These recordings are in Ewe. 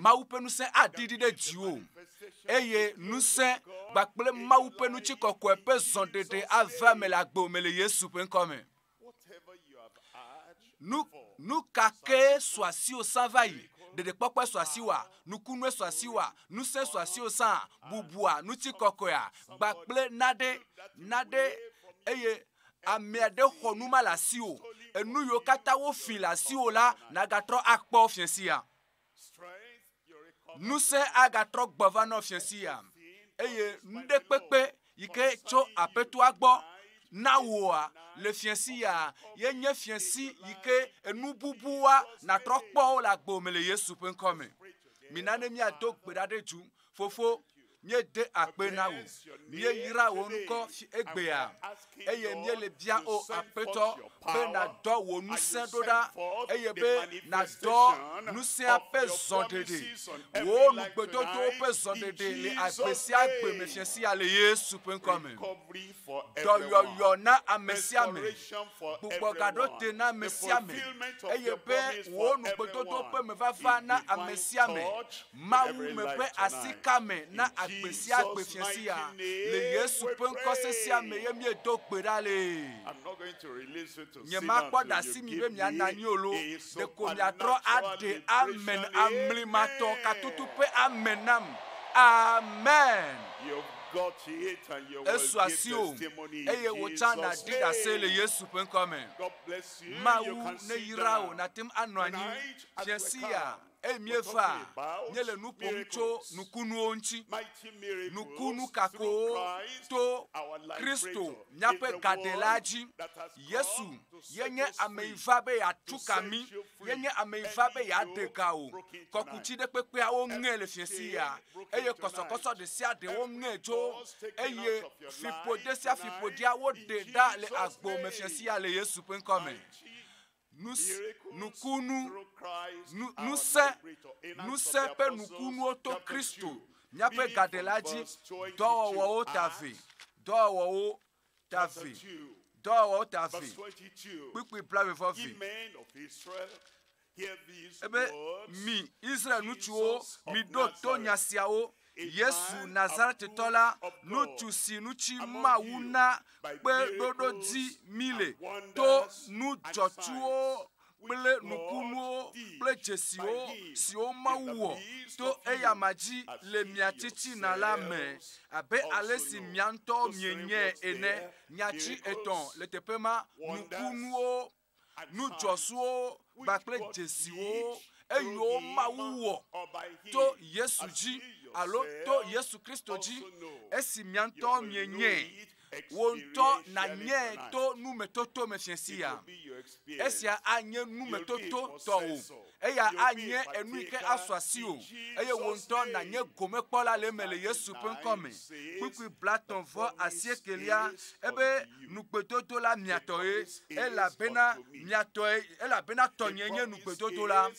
Mawu ƒe ŋusẽ aɖi ɖi ɖe dziwò eye ŋusẽ kpakple Mawu ƒe ŋuti kɔkɔe ƒe zɔɖeɖe ave ame le agbo me le Yesu ƒe ŋkɔ me. Nu nu ka ke sɔ asiwò sã va yi? Ɖeɖekpɔkpɔe sɔ asiwòa, nukunue sɔ asiwòa, ŋusẽ sɔ asiwò sã, bubua ŋuti kɔkɔea, gbakple naɖe naɖe eye Amea ɖe xɔ nu ma le asiwò, enu yiwo katã wofi le asiwò la, nàgatrɔ akpɔ fia sia. Ŋusẽ agatrɔ gbɔ va nɔ fia sia, eye nuɖekpekpe yi ke tso aƒetoa gbɔ na wòa le fia sia, ye nye fia si yi ke enu bubua nàtrɔ kpɔ wo le agbo me le Yesu ƒe ŋkɔ me. Mina ne míado gbe ɖa ɖe dzu. Fofo, Míede akpe na wò, míeyra wò ŋkɔ fi egbea, eye míele bia O Aƒetɔ be nàdɔ wò ŋusẽ ɖo ɖa, eye be nàdɔ ŋusẽa ƒe zɔɖeɖe. Wò nugbedodowo ƒe zɔɖeɖe le agbe sia gbe me fia sia le Yesu ƒe ŋkɔa me. Dɔyɔyɔ na ame sia ame, gbugbɔ ga ɖo te na ame sia ame, eye be wò nugbedodowo ƒe mevava na ame sia ame Mawu me ƒe asi ka me na agbe sia agbe fiasia. Le Yesu ƒe ŋkɔ sesea me ye míedo gbe ɖa le. Nyemakpɔ ɖe asi mi be miana anyi o lo, ɖeko miatrɔ aɖe amen amlimatɔ katutu ƒe amen nam. Amen. Esu asiwò eye wò tsã nàɖi ɖase le Yesu ƒe ŋkɔ me. Mawu neyra wò nàte ŋu anɔ anyi fiasia eye míeva nye le nu ƒom tso nukunuwo ŋuti. Nukunu kakowo to Kristo míaƒe gadelaa dzi. Yesu ye nye ame yi va be yeatu ka mí, ye nye ame yi va be yeade ga wò. Kɔkuti ɖe kpekpea woŋe le fiẽ si ya eye kɔsɔkɔsɔ ɖe sia ɖe woŋe dzo eye fiƒode sia fiƒodea woɖe ɖa le agbo me fiẽ si ya le Yesu ƒe ŋkɔ me. Nu, nukunu, nu, ŋusẽ, ŋusẽ ƒe nukunuwo to Kristo, míaƒe gaɖela dzi dɔwɔwɔwo ta vɛ, dɔwɔwɔwo ta vɛ, dɔwɔwɔwo ta vɛ, kpukpui blaeve vɔ vɛ. Ebe, mi Israel ŋutsuwo, miɖo to nya siawo. Yesu Nazaretitɔ la, nutsu si nutsi Mawu na kpe ɖoɖo dzi mí le to nu dzɔtsuwo kple nukunuwo kple dzesiwo siwo Mawu wɔ to eyama dzi le mia tsitsina la me, abe alesi mia ŋutɔwo mienyae ene. Nyatsi etɔ̃ le teƒe ma, nukunuwo nu dzɔsuwo kpakple dzesiwo eyo Mawu wɔ to Yesu dzi alo to Yesu Kristo dzi, esi mia ŋutɔ mienyae, wò ŋutɔ nanyae to numetoto me fiasia. Esia anye numetoto tɔwò eya anye enu yi ke asu asiwò eye wò ŋutɔ nànye gomekpɔla le eme le Yesu ƒe ŋkɔ me. Kpukpui blatɔ̃ vɔ asiekelia ebe nugbedodo la mia tɔe, elabena mia tɔe, elabena tɔnye nye nugbedodo la,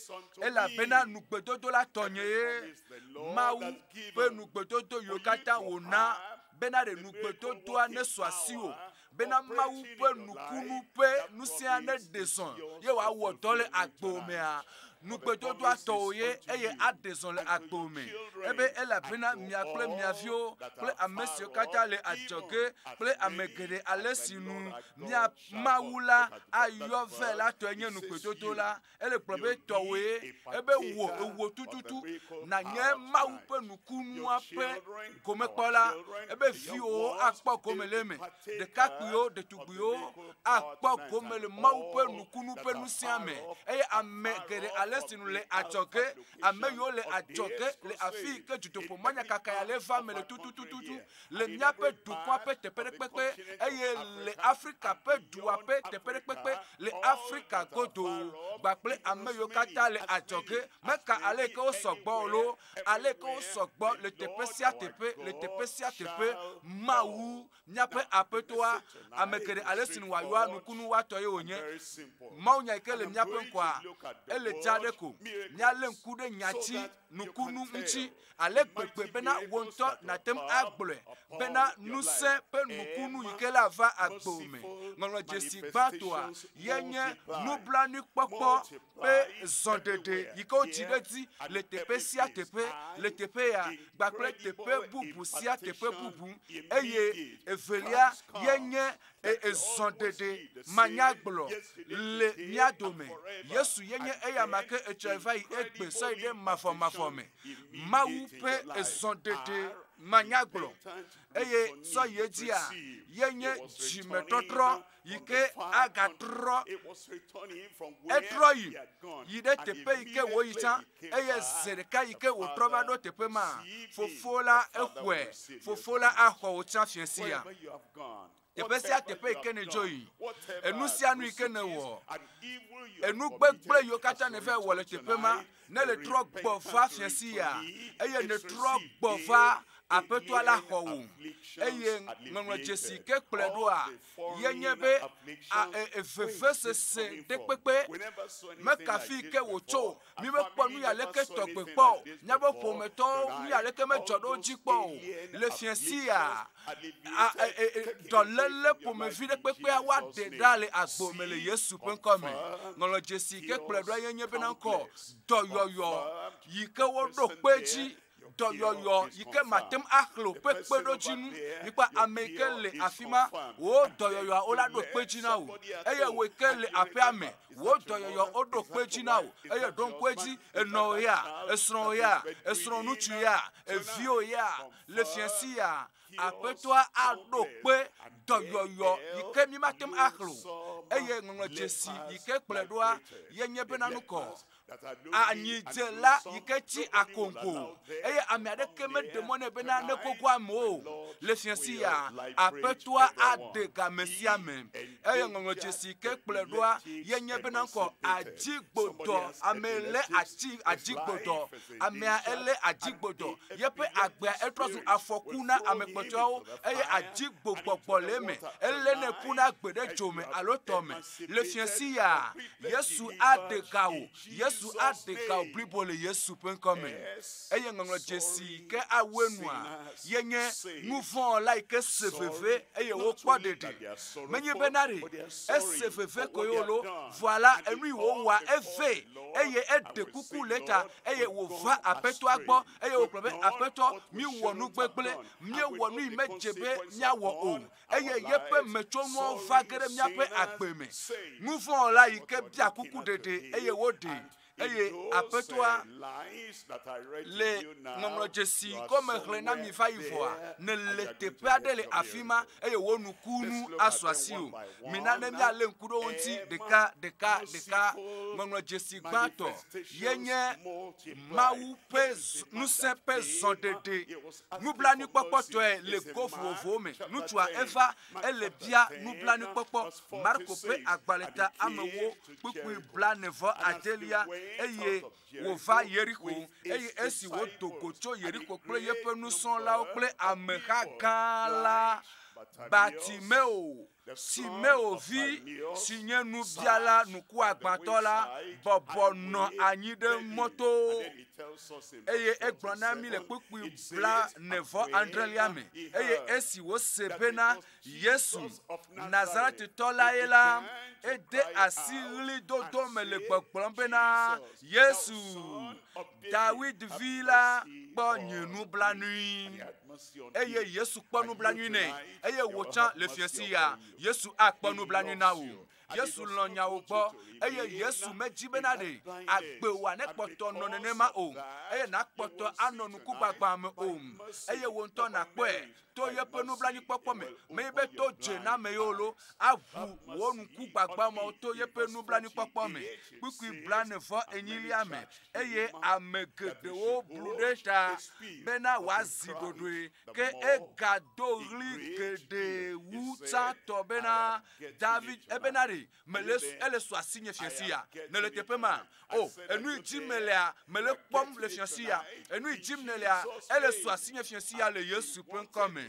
elabena nugbedodo la tɔnye ye. Mawu ƒe nugbedodo yiwo katã wòna bena ɖe nugbedodoa nesu asiwò bena Mawu ƒe nukunu ƒe nusia neɖe zɔ ye wòawɔ dɔ le agbo mea? Nugbedodoa tɔwò ye eye aɖe zɔ le agbo me. Ebe elabena mia kple mia viwo kple ame siwo katã le adzɔge kple ame geɖe ale si nu mia Mawu la ayɔ vɛ la tɔe nye nugbedodo la, Ele gblɔ be tɔwòe ebe wò ewò tututu nànye Mawu ƒe nukunua ƒe gomekpɔla, ebe viwò akpɔ gome le eme. Ɖekakpuiwo, ɖetugbuiwo akpɔ gome le Mawu ƒe nukunu ƒe nusia me. Eye ame geɖe ale si nu le adzɔge, ame yiwo le adzɔge le afii ke dzodoƒe manyakakae ale va me le tututututu le míaƒe dukɔa ƒe teƒeɖekpekpe eye le Afrika ƒe dua ƒe teƒeɖekpekpe le Afrika godo gbakple ame yiwo katã le adzɔge. Meka ale ke wosɔ gbɔ o loo, ale ke wosɔ gbɔ le teƒe sia teƒe, le teƒe sia teƒe. Mawu, míaƒe Aƒetɔa, ame geɖe ale si nu wòayɔa nukunu watɔ ye wònye. Mawunya yi ke le míaƒe ŋkɔa, ele dzaa ɖe ko. Míalé ŋku ɖe nya dzi. nukunu ŋuti ale gbegbe bena wò ŋutɔ nàte ŋu agblɔe bena ŋusẽ ƒe nukunu yi ke la va agbewò me. Ŋɔŋlɔ dzesi gbãtɔa ye nye nublanuikpɔkpɔ ƒe zɔɖeɖe yi ke wodzi ɖe edzi le teƒe sia teƒe le teƒe ya kpakple teƒe bubu sia teƒe bubu, eye evelia ye nye eye zɔɖeɖe manyagblɔ le mía dome. Yesu ye nye eya ma ke etsɔe va yi egbe sɔe ɖe mavɔmavɔ me. Mawu ƒe ezɔɖeɖe manyagblɔ eye sɔ yi edzia ye nye dzimetɔtrɔ yi ke agatrɔ. Etrɔ yi yi ɖe teƒe yi ke wòyi tsã Eye zi ɖeka yi ke wòtrɔ va ɖo teƒe ma, Fofo la exɔe. Fofo la axɔ wò tsã fiẽ sia. Teƒe sia teƒe yi ke nèdzo yi, enu sia nu yi ke nèwɔ, enu gbegblẽ yiwo katã nèva wɔ le teƒe ma, ne nètrɔ gbɔ va fiẽ sia, eye nètrɔ gbɔ va Aƒetɔa la xɔ wò, eye ŋɔŋlɔ dzesi ke kplɔe ɖoa, ye nye be a e e vevesese ɖekpekpe mekafi ke wòtso o. Mi mekpɔ nu ya leke tɔgbe kpɔ o. Míaƒe ƒometɔ nu ya leke medzɔ ɖe wo dzi kpɔ o. Le fia sia, a e e e dɔléle ƒomevi ɖekpekpea wa ɖe ɖa le agbo me le Yesu ƒe ŋkɔ me. Ŋɔŋlɔ dzesi ke kplɔe ɖoa ye nye bena ŋkɔ dɔyɔyɔ yi ke woɖo kpe dzi dɔyɔyɔ yi ke mate ŋu axlẽ o ƒe kpeɖodzinu yi kple ame yi ke le afi ma wò dɔyɔyɔa wo la ɖo kpe dzi na wò eye wò yi ke le aƒea me wò dɔyɔyɔ woɖo kpe dzi na wò eye ɖo ŋku edzi enɔwò ya esrɔ̃wò ya esrɔ̃ŋutsu ya eviwò ya le fiasi ya aƒetɔa aɖo kpe dɔyɔyɔ yi ke mi mate ŋu axlẽ o eye ŋɔŋlɔ dzesi yi ke kplɔe ɖoa yenye bena nukɔ anyidzela yi ke tsi akonko eye ame aɖeke meɖe mɔ nɛ bena nekoko ame o le fiasi ya aƒetɔa aɖe game sia me eye ŋɔŋlɔ dzesi ke kplɔe ɖoa yenye bena ŋkɔ adzigbodɔ ame lé atsi adzigbodɔ amea elé adzigbodɔ yeƒe agbea etrɔ zu afɔku na ame kpɔtɔeawo eye adzigbogbogbɔ le eme elé ne ƒuna gbe ɖe dzo me alo tɔ me Le fiẽ sia, Yesu aɖe ga wò, Yesu aɖe ga wò blibo le Yesu ƒe ŋkɔ me. Eye ŋɔŋlɔ dzesi yi ke awɔe nua ye nye nu vɔ̃ wɔla yi ke se veve eye wokpɔ ɖeɖe. Menye be na ɖe ese veve koe o loo, vɔa la, enui wòwɔa evɛ eye eɖe kuku le eta eye wòva Aƒetɔa gbɔ eye wògblɔ be, Aƒetɔ, míwɔ nu gbegblẽ, míewɔ nu yi medze be míawɔ o. eye yeƒe metsɔnuawo va ge ɖe míaƒe agbe me. Nuvɔ̃wɔla yi ke bia kuku ɖeɖe eye woɖee, eye Aƒetɔa le ŋɔŋlɔdzesi gɔme xlẽ na mi va yi vɔa, nèle teƒe aɖe le afi ma eye wò nukunu asu asiwò. Mina ne míalé ŋku ɖe wo ŋuti ɖeka ɖeka ɖeka. Ŋɔŋlɔdzesi gbãtɔ ye nye Mawu ƒe ŋusẽ ƒe zɔɖeɖe Nublanuikpɔkpɔ tɔe le go vovovowo me. Nutsua eva ele bia nublanuikpɔkpɔ. Marko ƒe agbalẽ ta amewo kpukpui blane vɔ adelia eye wova Yeriko. Eye esi wodo go tso Yeriko kple yeƒe nusrɔ̃lawo kple ameha gã la, Bartimeo, si me wò vi si nye nubiala ŋkuagbãtɔ la bɔbɔ nɔ anyi ɖe mɔto, eye egblɔ na mí le kpukpui bla nevɔ adrelia me, eye esi wose bena Yesu Nazaretitɔ lae la, ede asi ɣlidodo me le gbɔgblɔm bena, Yesu, Dawid vi la kpɔ nye nublanui, eye Yesu kpɔ nublanui nɛ, eye wò tsã le fiasi ya, Yesu akpɔ nublanui na wò. Yesu lɔ nyawo gbɔ, eye Yesu medzi bena ɖe agbe wòa nekpɔtɔ nɔ nenema o, eye nàkpɔtɔ anɔ nukugbagbã me o, eye wò ŋutɔ nàkpɔe to yeƒe nublanuikpɔkpɔ me, menye be to dzename yewo lo, aʋu wò nuku gbagbã mawo to yeƒe nublanuikpɔkpɔ me, kpukpui blaene vɔ enyilia me, eye ame geɖewo blu ɖe ta bena wòazi ɖoɖoe, ke egado ɣli geɖe wu tsãtɔ bena, David, ebena ɖe mele ele su asi nye fiasi ya nele teƒe ma o oh, enu yi dim nelea mele kpɔm le fiasi ya enu yi dim nelea ele su asi nye fiasi ya le yesu ƒe ŋkɔ me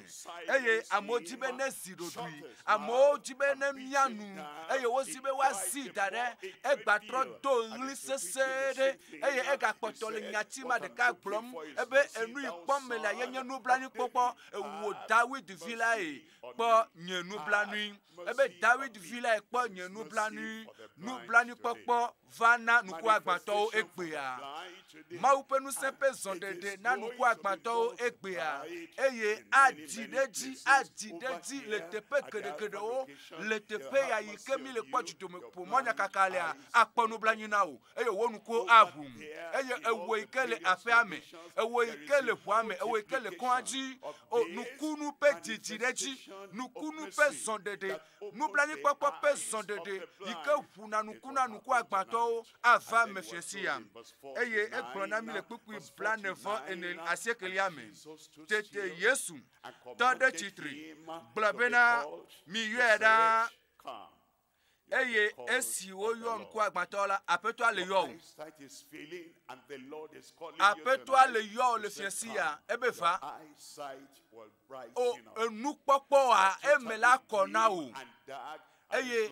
eye amewo di be ne zi ɖoɖui amewo di be ne mia nu eye wozi be woazi da ɖe egbatrɔ do ɣli sesẽ ɖe eye egakpɔtɔ le nyati ma ɖeka gblɔm ebe enu yi kpɔm mele ye nye nublanuikpɔkpɔ ewuwo dawid vi lae kpɔ nye nublanui ebe Dawid vi lae kpɔ nye nublanui, nublanuikpɔkpɔ va na nukuagbãtɔwo egbea. Mawu ƒe ŋusẽ ƒe zɔɖeɖe na nukuagbãtɔwo egbea, eye adi ɖe edzi, adi ɖe edzi le teƒe geɖegeɖewo, le teƒe ya yi ke mi le kpɔ dzidomeƒomɔnyakakalea, akpɔ nublanui na wò. eye wò nukuwo aʋu eye ewɔ yi ke le aƒea me ewɔ yi ke le ʋua me ewɔ yi ke le kɔa dzi o nukunu ƒe dzidzi ɖe dzi nukunu ƒe zɔɖeɖe nublanuikpɔkpɔ ƒe zɔɖeɖe yi ke ʋu na nuku na nuku agbãtɔwo ava me fia si ya eye egblɔ na mi le kpukpui blane vɔ ene asi ekelia me tete yesu tɔ ɖe tsitri gblɔ bena miyɔe ɖaa eye esi woyɔ ŋkuagbãtɔ la aƒetɔa le yɔwò aƒetɔa le yɔwò le fia sia ebe va o enukpɔkpɔa eme la kɔ na wò eye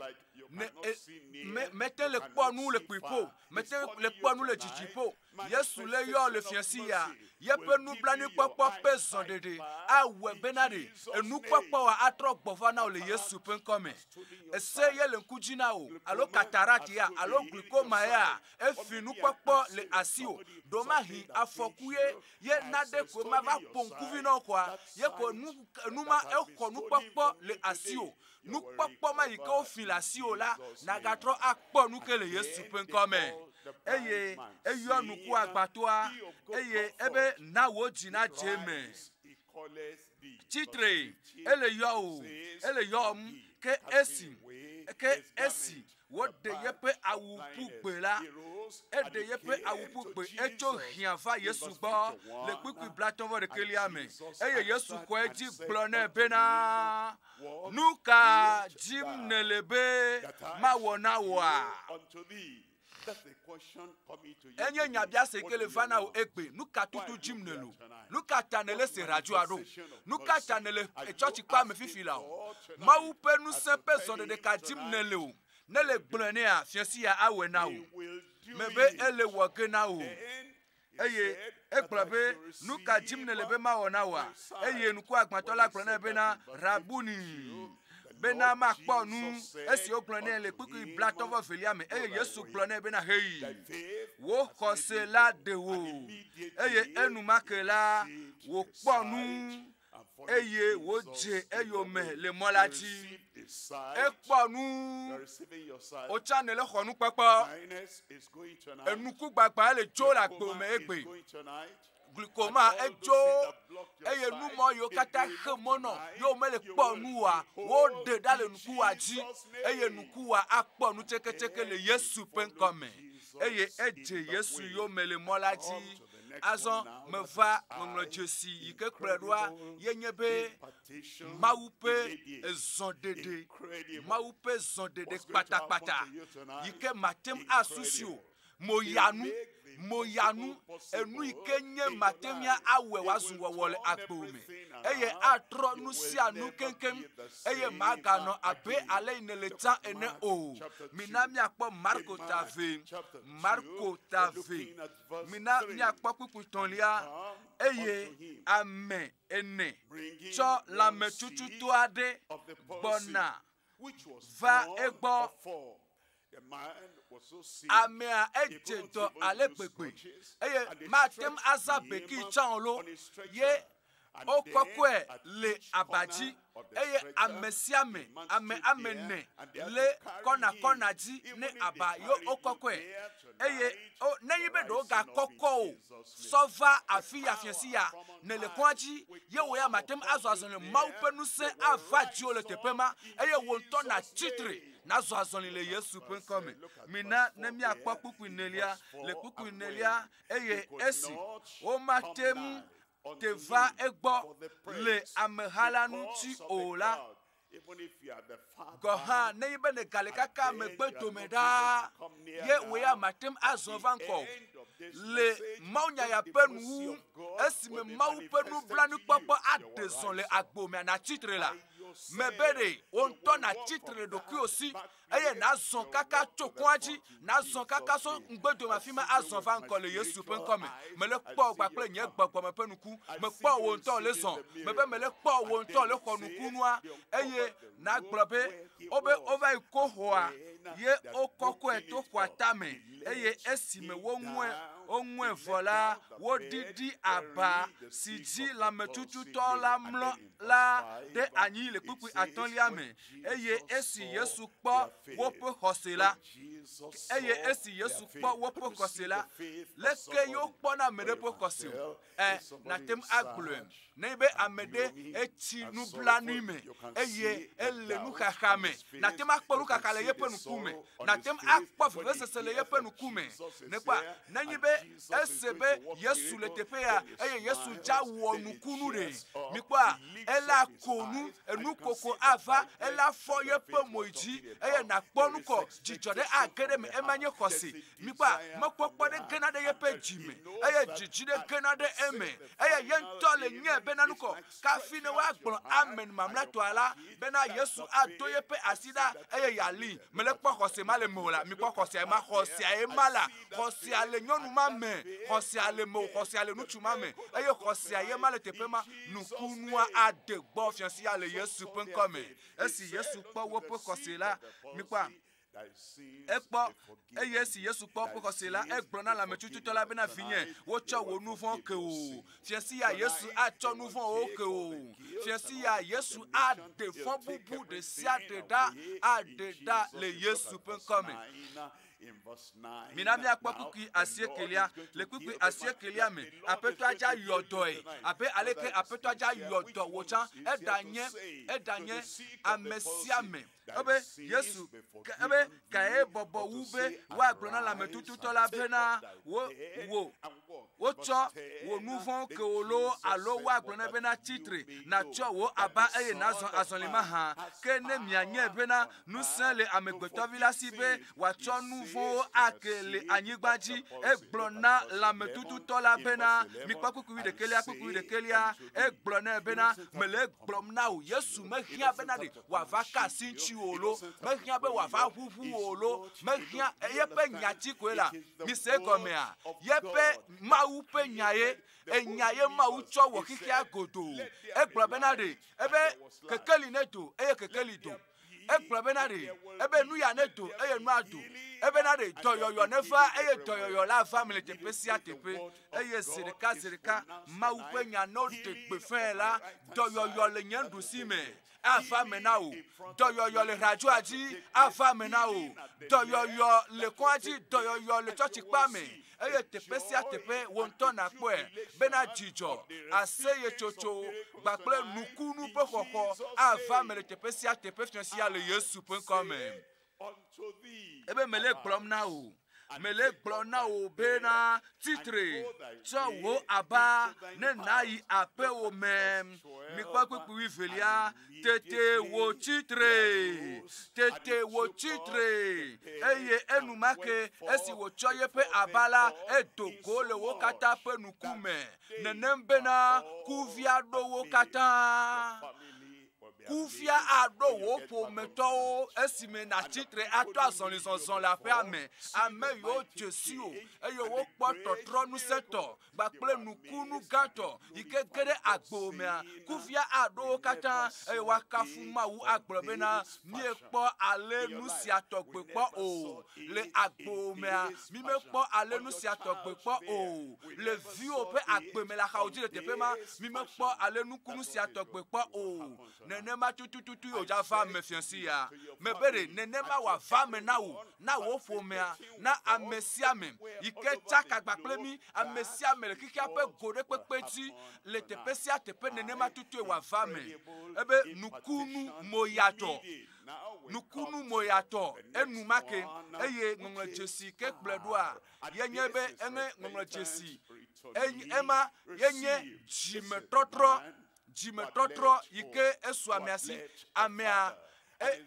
mete le kpɔ nu le kpuiƒo Mete ŋu le kpɔ nu le dzidziƒo. Yesu le yɔ le fiasi ya. Yeƒe nublanuikpɔkpɔ ƒe zɔɖeɖe awɔe bena ɖe enukpɔkpɔa atrɔ gbɔva na wò le Yesu ƒe ŋkɔ me. Ese ye le ŋku dzi na wò alo katarat ya alo glikoma ya efi nukpɔkpɔ le asiwò. Ɖomahi afɔku ye ye na ɖe koe mava ƒo ŋkuvi na wò koa ye koe nu nu ma exɔ nukpɔkpɔ le asiwò. nukpɔkpɔ ma yi ke wofi le asiwò la, nàgatrɔ akpɔ nu ke le Yesu ƒe ŋkɔ me. Eye eyɔ nuku agbatoa, eye ebe na wò dzi nadze eme. Tsitre, ele yɔwò, ele yɔm, ke esi, ke esi Woɖe yeƒe awu ƒu gbe la, eɖe yeƒe awu ƒu gbe, etso hiã va Yesu gbɔ le kpukpui blatɔ̃ vɔ ɖekɛlia me, eye Yesu xɔe dzi gblɔ nɛ bena, Nu ka dim nèle be mawɔ na wòa? Enye nyabiase ke le va na wò egbe. Nu ka tutu dzim nèle o? Nu ka ta nèlé se radioa ɖo? Nu ka ta nèle etsɔtsikpea me fifi la o? Mawu ƒe ŋusẽ ƒe zɔɖeɖe ka dim nèle o? Ne le gblɔe nɛa, fiasia awɔe na wò. Mebe ele wɔ ge na wò. Eye egblɔ be, Nu ka dim nèle be mawɔ na wòa? Eye ŋkuagbãtɔ la gblɔ nɛ bena, Rabuni, bena makpɔ nu. Esi wogblɔ nɛ le kpukpui blatɔ vɔ velia me, eye Yesu gblɔ nɛ bena, Heyi, wò xɔse la ɖe wò. Eye enumake la wòkpɔ nu eye wodze eyome le mɔ la dzi. Ekpɔ nu, wotsã nele xɔ nukpekpe. Enukugbagbã le dzo le agbo me egbe. Glikoma edzo eye numɔ yiwo katã xe mɔ nɔ yewo mele kpɔ nu wa woɖe ɖa le nukuwa dzi eye nukuwa akpɔ nutseketseke le Yesu ƒe ŋkɔ me eye edze Yesu yome le mɔ la dzi. Azɔ meva ŋɔŋlɔ dzesi yi ke kplɔe ɖoa yenye be Mawu ƒe ezɔɖeɖe, Mawu ƒe zɔɖeɖe kpatakpata yi ke mate ŋu asusi o. Moyanu, moyanu, enu yi ke nye mate ŋu awɔe wòazu wɔwɔ le agbo me, eye atrɔ nu sia nu keŋkeŋ, eye maganɔ abe ale yi nele tsã ene o. Mina míakpɔ Marko ta vɛ, Marko ta vɛ. Mina míakpɔ kpukpui tɔ̃lia, eye ame ene tsɔ lãmetsutsutɔ aɖe gbɔna va egbɔ. Amea edze dɔ ale gbegbe, eye mate ŋu aza beki tsã o lo, ye Wokɔkɔe le aba dzi, eye ame sia ame, ame ame ene, le kɔna kɔna dzi ne aba ye wokɔkɔe. Eye o, nenye be ɖewo gakɔkɔ o sɔ va afi ya fiasi ya, nèle kɔa dzi, ye wò ya màte ŋu azɔ azɔli. Mawu ƒe ŋusẽ ava dziwò le teƒe ma, eye wò ŋutɔ nàtsi tre nazɔ azɔli le Yesu ƒe ŋkɔ me. Mina ne míakpɔ kpukpui nelia. Le kpukpui nelia, eye esi womate ŋu teva egbɔ le ameha la ŋuti o la, gɔ̃ hã nenye be nègale kaka megbe dome ɖaa, ye wò ya màte ŋu azɔ va ŋgɔ o. Le mawunya ya ƒe nuwuwu, esime Mawu ƒe nublanuikpɔkpɔ aɖe zɔ le agbo me anatsi tre la, mebe ɖe wò ŋutɔ nàtsi tre le ɖokuiwò si eye nàzɔ kaka tso kɔa dzi, nàzɔ kaka so ŋugbedome afi ma azɔ va ŋkɔ le Yesu ƒe ŋkɔ me. Mele kpɔ gba kple nye gbɔgbɔ me ƒe nuku. Mekpɔ wò ŋutɔ le zɔ. Mebe mele kpɔ wò ŋutɔ le xɔ nukunua, eye nàgblɔ be, wobe wova yi Kohoa, ye wokɔkɔe to xɔa tame, eye esime woŋue, woŋue vɔ la, woɖiɖi aba si dzi lãmetututɔ la mlɔ la ɖe anyi le kpukpui atɔ̃lia me. Eye esi Yesu kpɔ woƒe xɔse la, eye esi Yesu kpɔ woƒe xɔse la, leke yewo kpɔna ame ɖe ƒe xɔse o? Ɛ, eh, nàte ŋu agblɔe. Ne be ame ɖe etsi nublanui me eye ele nuxaxa me, nàte ŋu akpɔ nuxaxa le yeƒe ŋkume, nàte ŋu akpɔ vevesese le yeƒe ŋkume. Nèkpɔa? Nenye be Ese be Yesu le teƒe ya eye Yesu dza wɔ nukunu ɖe. Mikpɔa, ele ako nu, enu koko ava, ele afɔ yeƒe mo yi dzi eye nakpɔ nu kɔ, dzidzɔ ɖe age ɖe me, ema nye xɔse. Mikpɔa, mekpɔkpɔ ɖe gena ɖe yeƒe dzi me eye dzidzi ɖe gena ɖe eme eye ye ŋutɔ le nyae be nanu kɔ. Kafi ne woagblɔ amen mamlɛtɔa la bena Yesu ado yeƒe asi ɖa eye yealii. Mele kpɔ xɔse ma le mewò la. Mikpɔ xɔsea ma. Xɔsea ye ma la. Xɔsea le nyɔnu ma me. Xɔsea le mewò. Xɔsea le ŋutsu ma me. Eye xɔsea ye ma le teƒe ma. Nukunua ade gbɔ fiasia le Yesu ƒe ŋkɔ me. Esi Yesu kpɔ woƒe xɔse la, mikpɔa? Ekpɔ, eye esi Yesu kpɔ eƒe xɔse la, egblɔ na lãmetsutsutɔ la bena, Vinye, wotsɔ wò nu vɔ̃ ke wò. Fia si ya Yesu atsɔ nu vɔ̃wo ke wò. Fia si ya Yesu aɖe fɔbubu ɖe sia ɖe ɖa aɖe ɖa le Yesu ƒe ŋkɔ me. Mina míakpɔ kpukpui asiekelia. Le kpukpui asiekelia me, aƒetɔa dza yɔ dɔe abe aleke aƒetɔa dza yɔ dɔ wò tsã. Eɖanye, eɖanye ame sia ame Ebe Yesu, ke ebe kae bɔbɔ wu be woagblɔ na lãmetututɔ la bena wo, wò, wotsɔ wò nu vɔ̃wo ke wò loo alo woagblɔ nɛ bena tsi tre, nàtsyɔ wò aba eye nàzɔ azɔli mahã. Ke ne mianyae bena ŋusẽ le Amegbetɔvi la si be wòatsɔ nu vɔ̃wo ake le anyigba dzi, egblɔ na lãmetututɔ la bena, Mikpɔ kpukpui wuiɖekɛlia, kpukpui wuiɖekɛlia. Egblɔ nɛ bena, Mele egblɔm na wò, Yesu mehiã bena ɖe wòava ka asi ŋutiwò o lo, mehiã be wòava ʋuʋu wò o lo, mehiã yeƒe nya ti koe la. Mise egɔmea? Yeƒe Mawu ƒe nyae, enya ye Mawu tsɔ wɔ xexea godoo. Egblɔ bena ɖe ebe kekeli nedo eye kekeli do. Egblɔ bena ɖe ebe nuya nedo eye nua do. Ebena ɖe dɔyɔyɔ neva eye dɔyɔyɔ la va mele teƒe sia teƒe. Eye zi ɖeka zi ɖeka Mawu ƒe nya ne woɖe gbe fɛ̃ la, dɔyɔyɔ le nye nuɖusi me. ava eme na wò. Dɔyɔyɔ le radioa dzi ava eme na wò. Dɔyɔyɔ le kɔa dzi, dɔyɔyɔ le tsɔtsikpea me, eye teƒe sia teƒe wò ŋutɔ nàkpɔe bena dzidzɔ, aseyetsotso kpakple nukunu ƒe xɔxɔ ava eme le teƒe sia teƒe fiafia le Yesu ƒe ŋkɔ me. Ebe mele gblɔm na wò. Mele gblɔm na wò bena tsitre, tsɔ wò aba ne nàyi aƒewò me. Mikpɔ kpukpui velia. Tete wò tsitre. Tete wò tsitre. Eye enumake esi wòtsɔ yeƒe aba la, edo go le wo katã ƒe ŋkume. Nenem bena kuvia ɖo wo katã. Kufia aɖo wò ƒometɔwo esime nàtsi tre ato azɔlizɔzɔ le aƒea me. Ame yiwo dze si o eye wokpɔ tɔtrɔ ŋusẽtɔ kpakple nukunu gãtɔ yi ke ge ɖe agbo mea, kufia aɖo wo katã eye woakafu Mawu agblɔ bena, Miekpɔ ale nu sia tɔgbe kpɔ o le agbo mea. Mimekpɔ ale nu sia tɔgbe kpɔ o. Le viwò ƒe agbe me le axawo dzi le teƒe ma, mimekpɔ ale nukunu sia tɔgbe kpɔ o. Nenema tutututu yio dza va me fiasi ya. Mebe ɖe nenema wòava me na wò, na wò ƒomea, na ame sia ame yi ke tsa kagba kple mí, ame sia ame le xexea ƒe go ɖe kpekpe dzi le teƒe sia teƒe nenema tutue wòava me. Ebe nukunu moyatɔ. nukunu moyatɔ enumake, eye ŋɔŋlɔ dzesi ke kplɔe ɖoa yenye be enye ŋɔŋlɔ dzesi ema yenye dzimetɔtrɔ dzimetɔtrɔ yi ke esu amea si amea eye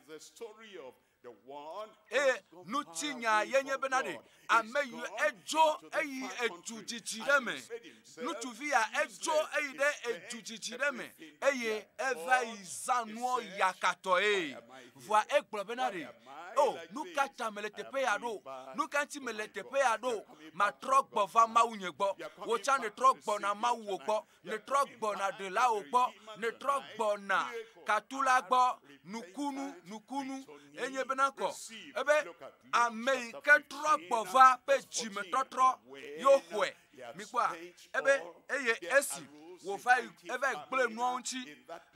ŋutinya yenye bena ɖe ame yi edzo eyi edu dzidzi ɖe me ŋutsuvi ya edzo eyi ɖe edu dzidzi ɖe me eye eva yi zã nuɔ yakatɔe vɔa egblɔ bena ɖe o oh, nu ka ta mele teƒe ya ɖo nu ka ŋuti mele teƒe ya ɖo matrɔ gbɔ va mawu nye gbɔ wò tsã netrɔ gbɔna mawu wò gbɔ Nètrɔ gbɔna ɖelawo gbɔ, nètrɔ gbɔna katula gbɔ. Nukunu, nukunu enye bena kɔ ebe ame yi ke trɔ gbɔ va ƒe dzimetɔtrɔ yewo xɔe. Mikpɔa ebe eye esi wòva yi eva yi gblẽ nua ŋuti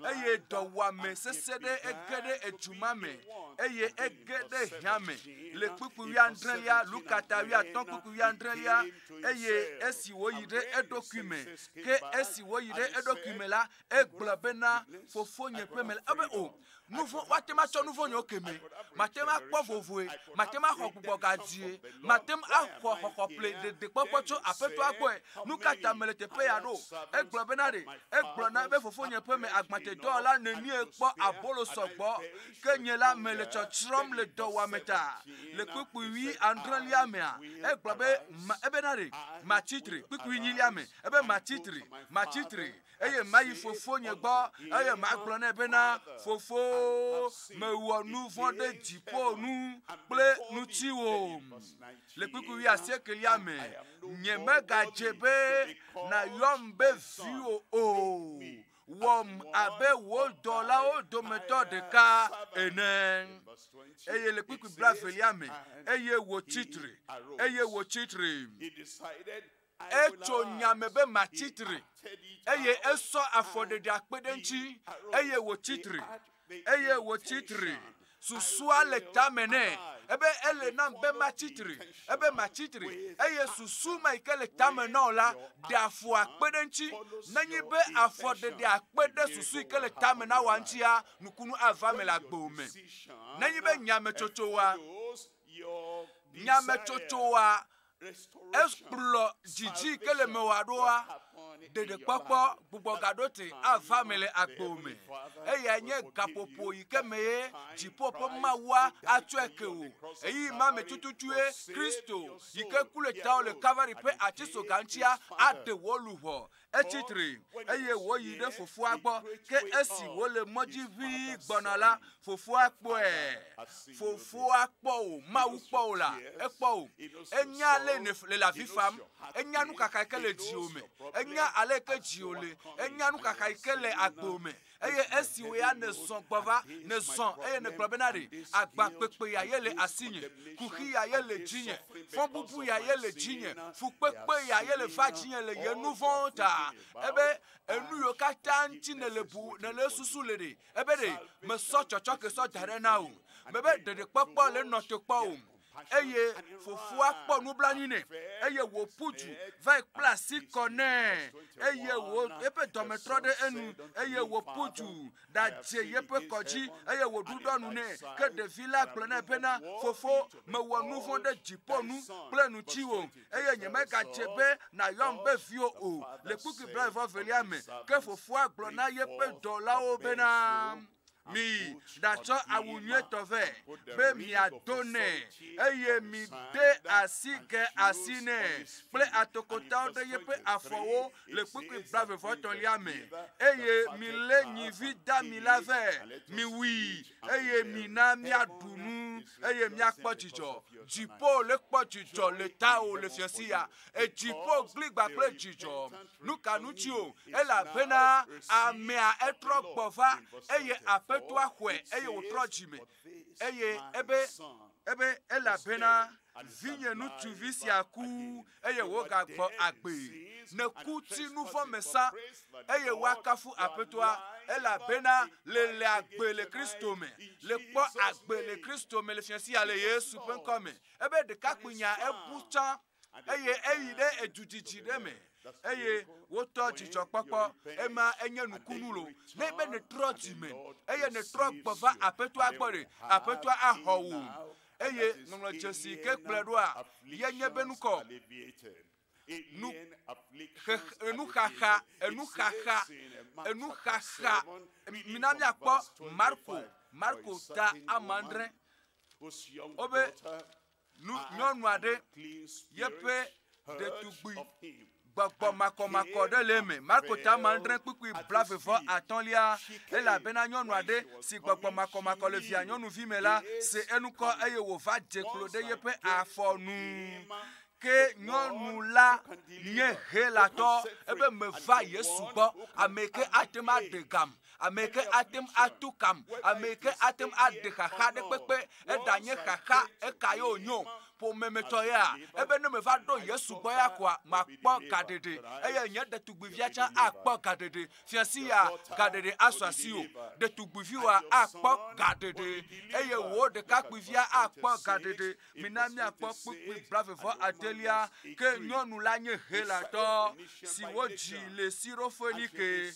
eye dɔwuame sesẽ ɖe ege ɖe edu ma me eye ege ɖe hiã me le kpukpui wuiadrelia, Lukata wuiatɔ̃ kpukpui wuiadrelia eye esi wòyi ɖe eɖokui me, ke esi wòyi ɖe eɖokui me la, egblɔ bena, Fofonye ƒe me la, ebe o, oh, nu vɔ̃, woate ŋu atsɔ nu vɔ̃ nyewo ke me, mate ŋu akpɔ vovoe, mate ŋu axɔ gbugbɔ gadzie, mate ŋu axɔ xɔxɔƒle ɖeɖekpɔkpɔ tso Aƒetɔa gbɔe. Nu ka ta mele teƒe ya ɖo? Egblɔ bena ɖe, egblɔ na be fofonye ƒe me agbatedɔwɔla nenie kpɔ abolo sɔgbɔ Ke nye la mele tsɔtsrɔ̃m le dɔwuame ta. Le kpukpuiɣi adrɔ̃lia mea, egblɔ be, Ma, ebena ɖe matsi tre, kpukpuiɣi enyilia me, ebe matsi tre, matsi tre, eye mayi Fofonye gbɔ, eye magblɔ nɛ bena, Fofo, mewɔ nu vɔ̃ ɖe dziƒo nu kple ŋutiwò. Le kpukpuiɣi asiekelia me, nyemegadze be nàyɔm be viwò o. wɔm abe wo dɔlawo dometɔ ɖeka ene eye le kpukpui bla velia me eye wòtsi tre eye wòtsi tre etso nyame be matsi tre eye esɔ afɔ ɖeɖe akpe ɖe ŋuti eye wòtsi tre eye wòtsi tre. Susua le tame nɛ ebe ele nam be matsi tre, ebe matsi tre, eye susu ma yi ke le tame na wò la ɖe afɔ akpe ɖe eŋuti. Nenye be afɔɖeɖe akpe ɖe susu yi ke le tame na wòa ŋutia, nukunu ava eme le agbewòme. Nenye be nyametsotsoa, nyametsotsoa ekplɔ dzidzi ke le mewɔ aɖoa ɖeɖekpɔkpɔ gbugbɔ gaɖo te ava me le agbo me eya nye gaƒoƒo yi ke me ye dziƒo ƒe mawua atsɔe ke o eyi ma me tututue kristo yi ke ku le tao le kalvari ƒe atisoga ŋutia aɖe wɔ luʋɔ etsi tre eye wòyi ɖe fofoa gbɔ ke esi wòle mɔ dzi ʋĩi gbɔna la fofoa kpɔe fofoa kpɔ o mawu kpɔ o la ekpɔ o enya ale le le avi fam enya nukaka yi ke le dziwò me enya ale yi ke dziwò le enya nukaka yi ke le agbo me eye esi wòye ya nèzɔ gbɔ va, nèzɔ eye nègblɔ bena ɖe agbakpekpe ya ye le asinye, kuxi ya ye le dzinye, fɔbubu ya ye le dzinye, fukpekpe ya ye le va dzinye le ye nu vɔ̃wo ta. Ebe enu yiwo katã ŋuti nèle bu, nèle esusu le ɖe, ebe ɖe mesɔ tsɔtsɔke sɔ da ɖe na wò, mebe ɖeɖekpɔkpɔ le nɔ te kpɔ wò. eye fofoa kpɔ nublanui nɛ eye wòƒu du va kpla asi kɔ nɛ eye wò eƒe dɔme trɔ ɖe enu eye wòƒu du ɖadze yeƒe kɔ dzi eye wòɖuɖɔ nu nɛ ke ɖevi la gblɔ nɛ bena fofo mewɔ nu vɔ̃ ɖe dziƒo nu kple ŋutiwò eye nyemegadze be nàyɔm be viwò o le kpukui blaeve velia me ke fofoa gblɔ na yeƒe dɔlawo bena Miyi ɖatsɔ awu nyuitɔ vɛ, be miado nɛ, eye mide asige asi nɛ kple atokotawo ɖe yeƒe afɔwo le kpukpui blaevevɔtɔ̃lia me, eye milé nyivi dami la vɛ, miwui, eye mina míaɖu nu, eye míakpɔ dzidzɔ. Dziƒo le kpɔ dzidzɔ le tawò le fiasia Etsi ƒo gli gba kple dzidzɔ. Nu ka nu tsi o? Elabena amea etrɔ gbɔ va eye aƒetɔa xɔe eye wòtrɔ dzi me eye ebe ebe elabena vinye ŋutsuvi sia ku eye wogagbɔ agbe. Neku ti nu vɔ̃ me sa eye woakafu aƒetɔa elabena le le agbe le Kristo me, le kpɔ agbe le Kristo me le fiasia le Yesu ƒe ŋkɔ me. ebe ɖekakpui nya ebu tsã eye eyi ɖe edu didi ɖe me eye wotɔ dzidzɔkpɔkpɔ ema enye nukunu lo ne be netrɔ dzi me eye netrɔ gbɔ va aƒetɔa gbɔ ɖe aƒetɔa axɔ wò eye ŋɔŋlɔ dzesi ke kplɔe ɖoa yenye be nukɔ nu enuxaxa enuxaxa enuxaxa mina miakpɔ marko marko ta amandre Wobe nu nyɔnu aɖe yeƒe ɖetugbui gbɔgbɔ makɔmakɔ ɖe le eme marko tama adre kpukpui blavevɔ atɔ̃lia elabena nyɔnu aɖe si gbɔgbɔ makɔmakɔ le via nyɔnuvi me la se enukɔ eye wòva dze klo ɖe yeƒe afɔ nu ke nyɔnu la nye helatɔ ebe meva yesu gbɔ ame ke ate ŋu aɖe gam Ame ke ate ŋu ato kam, ame ke ate ŋu aɖe xaxa ɖe kpekpe. Eɖanye xaxa eka ye wònyo, ƒomemetɔ ya, ebe ne meva ɖo Yesu gbɔ ya koa, makpɔ gaɖeɖe, eye nye ɖetugbivia tsã akpɔ gaɖeɖe. Fiasi ya, gaɖeɖe asu asiwò. Ɖetugbiviwoa, akpɔ gaɖeɖe, eye wò ɖekakpuivia akpɔ gaɖeɖe. Mina míakpɔ kpukpui blaeve-vɔ adelia, ke nyɔnu la nye Helatɔ si wodzi le Sirofoenike,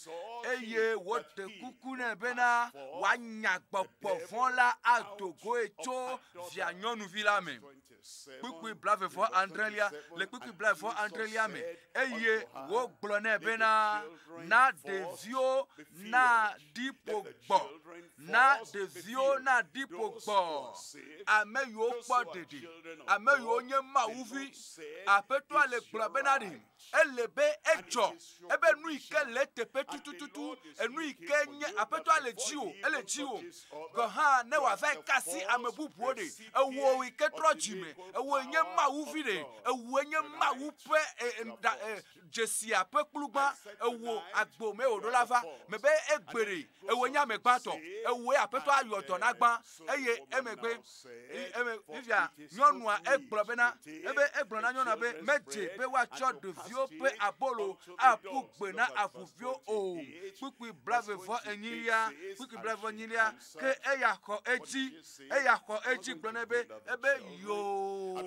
eye woɖe kuku nɛ bena wòanya gbɔgbɔ vɔ̃ la ado goe tso via nyɔnuvi la me. Kpukpui blaeve-vɔ adrelia, le kpukpui blaeve-vɔ adrelia me, eye wogblɔ nɛ bena, na ɖeviwo naɖi ƒo gbɔ Na ɖeviwo naɖi gbogbɔ ame yiwo kpɔ ɖeɖe, ame yiwo nye Mawu vi. Aƒetɔa le gblɔ bena ɖe ele be edzɔ ebe nu yi ke le teƒe tutututu, enu yi ke nye aƒetɔa le dzi o, ele dzi o. Gɔ̃ hã ne wòava kasi ame bubuwo ɖe, ewɔ yi ke trɔ dzime, ewɔ nye Mawu vi ɖe, ewɔ nye Mawu ƒe dzesia ƒe kplugbã ewo agbo me wòɖo la va me be egbeɖe ewo nye ame gbãtɔ ewoe aƒetɔ ayɔ dɔ na gbã eye emegbe fifia nyɔnua egblɔ bena ebe egblɔ na nyɔnua be medze be woatsɔ ɖeviwo ƒe abolo aƒu gbe na avuviwo o kpukpui blavevɔ enyilia kpukpui blavevɔ enyilia ke eya xɔ edzi eya xɔ edzi gblɔ ne be ebe yoo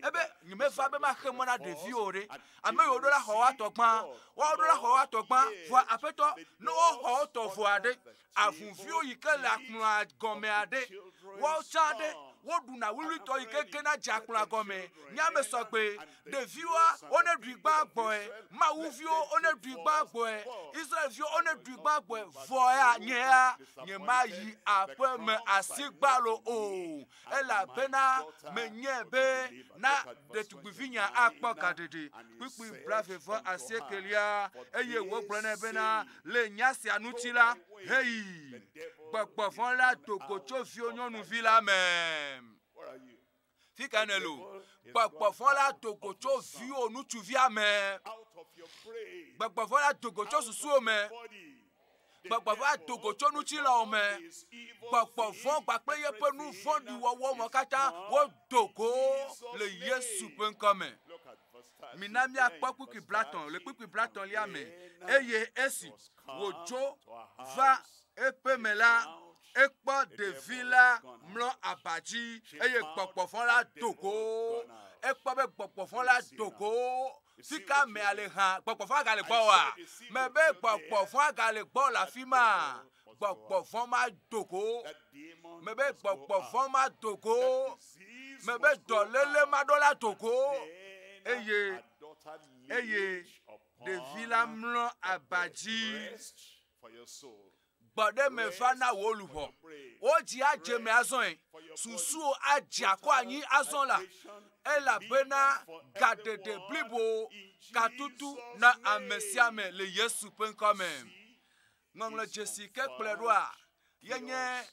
ebe nyemeva be maxe mɔ na ɖeviwo o ɖe ame yiwo ɖo la xɔ woa tɔ gbã woawo ɖo la xɔ woa tɔ gbã vɔa aƒetɔ ne woxɔ wo tɔ vɔ aɖe avuviwo yi ke le akplɔa gɔme aɖe woawo tsã aɖe woɖuna wuwlitɔ yi ke gena dze akplɔa gɔme nye ame sɔgbe ɖeviwoa wone ɖui gbã gbɔe mawuviwo wone ɖui gbã gbɔe israelviwo wone ɖui gbã gbɔe vɔ ya nye ya nyemayi aƒeme asi gbalo o elabena menyae be na ɖetugbivinya akpɔ gaɖeɖe. Kpukpui blaeve vɔ asiekelia, eye wògblɔ nɛ bena, le nya sia ŋuti la, heyi, gbɔgbɔ vɔ la do go tso viwò nyɔnuvi la me. Fi ka nèle o? Gbɔgbɔ vɔ la do go tso viwò ŋutsuvia me. Gbɔgbɔ vɔ la do go tso susuwò me. Gbɔgbɔ va do go tso ŋutilãwo me. Gbɔgbɔ vɔ kpakple yeƒe nu vɔ̃ɖi wɔwɔ me katã wodo go le Yesu ƒe ŋkɔ me. Mina míakpɔ kpukpui blatɔ̃ le kpukpui blatɔ̃lia me. Eye esi wòdzo va eƒe me la, ekpɔ ɖevi la mlɔ aba dzi eye gbɔgbɔ vɔ la do go. Ekpɔ be gbɔgbɔ vɔ la do go Sika mea le hã, gbɔgbɔ vɔ̃a gale gbɔ oa? Mebe gbɔgbɔ vɔ̃a gale gbɔ le afi ma. Gbɔgbɔ vɔ̃ ma do go. Mebe gbɔgbɔ vɔ̃ ma do go. Mebe dɔléle ma ɖo la do go. Eye eye ɖevi la mlɔ aba dzi. Gbɔɖe me va na wò luʋɔ. Wò dzi adze eme azɔe. Susuwo adze akɔ anyi azɔ la, elabena gaɖeɖe blibo katutu na ame sia ame le Yesu ƒe ŋkɔ me. Ŋɔŋlɔ dzesi ke kplɔe ɖoa, yenye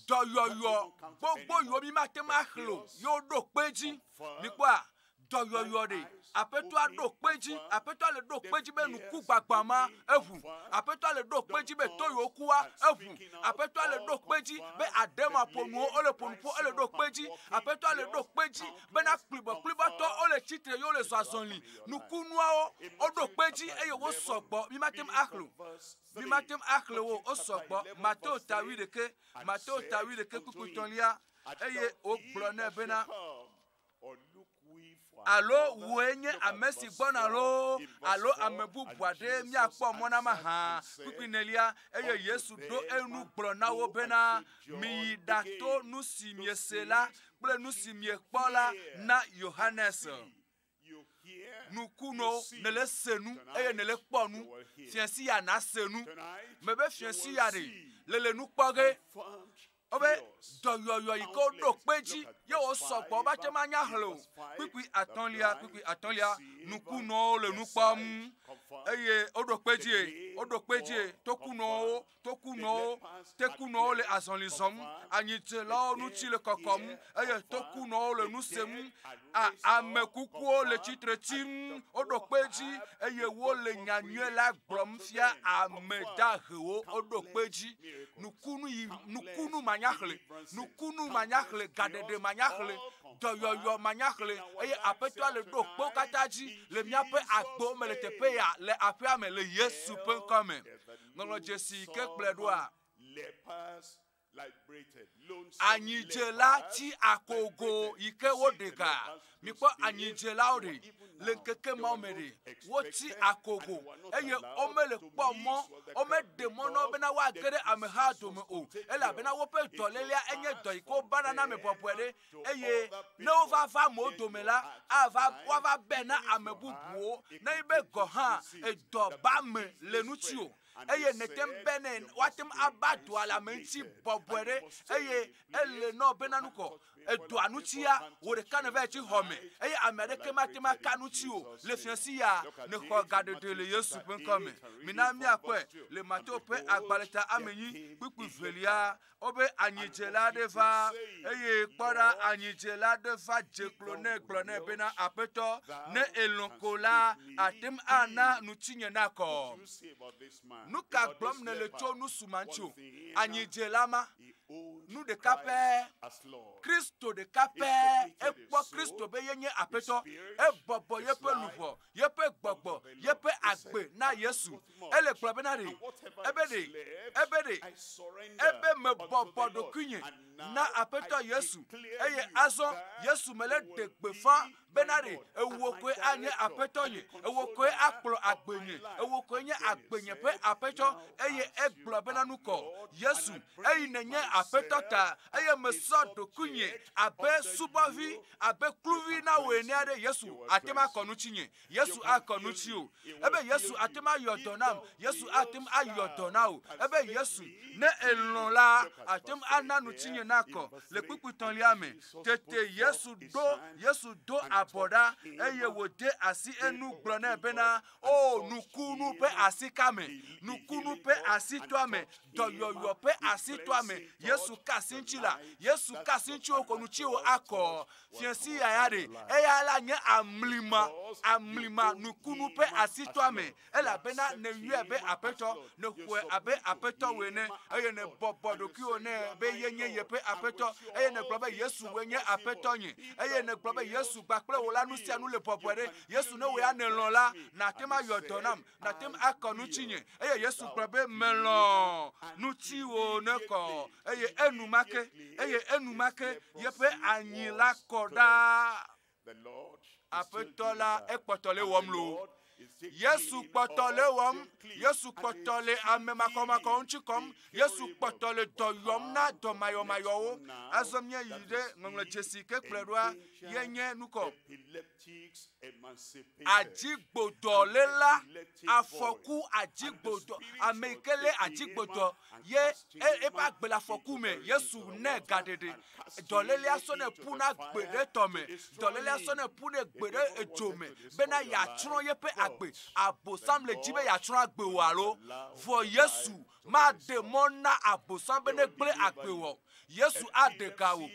Dɔyɔyɔ gbogbo yiwo mi mate ŋu axlẽ o ye woɖo kpe edzi. Mikpɔa? Dɔyɔyɔ ɖe. Aƒetɔa ɖo kpe edzi. Aƒetɔa le ɖo kpe edzi be nukugbagbã ma eʋu. Aƒetɔa le ɖo kpe edzi be to yiwo kua eʋu. Aƒetɔa le ɖo kpe edzi be aɖemaƒonuwo wole ƒo nu ƒo ele ɖo kpe edzi. Aƒetɔa le ɖo kpe edzi bena kplibɔkplibɔtɔwo wole tsitre ye wole zɔazɔli. Nukunuawo woɖo kpe edzi eye wosɔ gbɔ mi mate ŋu axlẽ o. Mi mate ŋu axlẽ wo, wosɔ gbɔ. Mateo ta wuiɖeke, Mateo ta wuiɖeke kpukpu tɔ̃lia, eye wogblɔ nɛ bena, Alo wòe nye ame si gbɔna loo, alo ame bubu aɖe míakpɔ mɔ na mahã. Kpukpui nelia, eye Yesu ɖo enu gblɔ na wo bena, Miyi ɖato nu si miese la kple nu si miekpɔ la na Yohanes. Nu ku nɔ nele se nu eye nele kpɔ nu. Fiãsi ya na se nu. Me be fiãsi ya ɖe le le nu kpɔ ge. Wobe dɔyɔyɔ yi ke woɖo kpe dzi ye wo sɔgbɔ woba te ma nya xlẽ o. Kpukpui atɔ̃lia, kpukpui atɔ̃lia, nukunɔwo le nu kpɔm eye woɖo kpe dzie, woɖo kpe dzie to kunɔwo tokunɔwo tekunɔwo le azɔli zɔm anyitilɔwo ŋuti le kɔkɔm eye tokunɔwo le nu sem ame kukuwo le tsitre tim woɖo kpe dzi eye wole nyanyuie la gblɔm fia ame dahewo woɖo kpe dzi nukunu yi nukunu manyaxle nukunu manyaxle gaɖeɖe manyaxle dɔyɔyɔ manyaxle eye aƒetɔa le ɖo kpewo katã dzi le míaƒe agbo me le teƒe ya le aƒea me le yesu ƒe ŋkɔ me ŋlɔ dzesi ke kplɔe ɖoa? Anyidzela ti akogo yi ke woɖe ga. Mikpɔ anyidzelawo ɖi le ŋkeke mawo me ɖi. Woti akogo eye womele kpɔ mɔ, womeɖe mɔ na wo bena woage ɖe ameha dome o. Elabena woƒe dɔlélea enye dɔ yi ke wobana na ame bɔbɔe ɖe. eye ne wova va amewo dome la, ava woava be na ame bubuwo, ne be gɔ̃ hã edɔ ba me le ŋutiwò, eye nète ŋu benɛ woate ŋu aba dɔa le ame ŋuti bɔbɔe ɖe, eye ele na wò bena nu kɔ edɔa ŋutia, wò ɖeka nèvae tsi xɔ me, eye ame aɖeke mate ŋu aka ŋutiwò o le fiãsi ya, nèxɔ gaɖeɖe le Yesu ƒe ŋkɔ me. Mina míakpɔe le Mateo ƒe agbalẽ ta ame enyi kpukpui velia Wobe anyidzela aɖe va eye kpɔ ɖa anyidzela aɖe va dze klo ne gblɔ nɛ bena aƒetɔ ne elɔ̃ ko la ate ŋu ana ŋutinye nakɔ. Nu ka gblɔm nèle tso nu si ma ŋuti o? Anyidzela ma nu ɖeka pɛ Kristo ɖeka pɛ ekpɔ Kristo be yenye aƒetɔ ebɔbɔ yeƒe luʋɔ yeƒe gbɔgbɔ, yeƒe agbe na Yesu. Ele gblɔ bena ɖe, ebe ɖe, ebe ɖe, ebe mebɔbɔ ɖokuinye na Aƒetɔ Yesu. Eye azɔ Yesu mele ɖe gbefa bena ɖe, ewò koe anye Aƒetɔ nye, ewò koe akplɔ agbe nye, ewò koe nye agbe nye ƒe Aƒetɔ. Eye egblɔ bena nukɔ Yesu, eyi nenye Aƒetɔ ta, eye mesɔ ɖokuinye abe subɔvi Abe kluvi na wò enea ɖe, Yesu ate ŋu akɔ nu tsi nye. Yesu akɔ nu tsi o. Ebe Yesu ate ŋu ayɔ dɔ nam. Yesu ate ŋu ayɔ dɔ na wò. Ebe Yesu, ne elɔ̃ la, ate ŋu ana nu tsi nye nakɔ le kpukpui tɔ̃lia me. Tete Yesu ɖo, Yesu do abɔ ɖa eye wòde asi enu gblɔ nɛ bena, o nukunu ƒe asi ka me nukunu ƒe asi to ame dɔyɔyɔ ƒe asi to ame yesu ka asi ŋuti la yesu ka asi ŋuti o kɔnu tsi o akɔ fiasi yaya ɖe eya la nye amlima amlima nukunu ƒe asi to ame elabena ne yɔe be aƒetɔ ne xɔe abe aƒetɔ wɔ ene eye ne bɔbɔ ɖokuiwo ne be ye nye yeƒe aƒetɔ eye ne gblɔ be yesu wɔ nye aƒetɔ nye eye ne gblɔ be yesu gbakple wò la nu sia nu le bɔbɔe ɖe Yesu, ne wò ya nèlɔ̃ la, nàte ŋu ayɔ dɔ nam, nàte ŋu akɔ nu tsinye. Eye Yesu gblɔ be, melɔ̃ nu tsiwò nekɔ. Eye enumake, eye enumake yeƒe anyi la kɔ ɖaa. Aƒetɔ la ekpɔtɔ le wɔm lo. Yesu kpɔtɔ le wɔm, Yesu kpɔtɔ le ame makɔmakɔ ŋuti kɔm, Yesu kpɔtɔ le dɔ yɔm na dɔmayɔmayɔwo. Azɔ míayi ɖe ŋɔŋlɔ dzesi ke kplɔe ɖoa, ye nye nukɔ. Adzigbodɔléla, afɔku adzigbodɔ, ameyike lé adzigbodɔ ye eƒe agbe le afɔku me, Yesu nɛ gaɖeɖe, dɔlélea sɔnɛ ƒuna gbe ɖe tɔ me, dɔlélea sɔnɛ ƒunɛ gbe ɖe edzo me bena yeatsrɔ̃ yeƒe agbe. Abosam le dzi be yeatsrɔ̃ agbe wò alo? Vɔ Yesu Made mɔ na Agbosã be negblẽ agbe wò o. Yesu aɖe ga wò.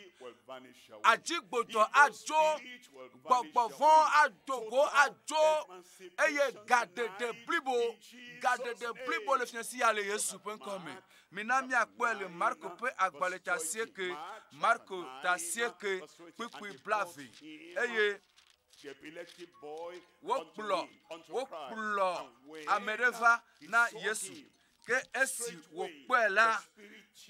Adzigbotɔ adzo, gbɔgbɔ vɔ̃ ado go adzo, eye gaɖeɖe blibo, gaɖeɖe blibo le fiase ya le Yesu ƒe ŋkɔ me. Mina míakpɔe le Marko ƒe agbalẽ ta asieke, Marko ta asieke, kpukpui blaeve, eye Wokplɔ, wokplɔ ame ɖe va na Yesu. Ke esi wòkpɔe la,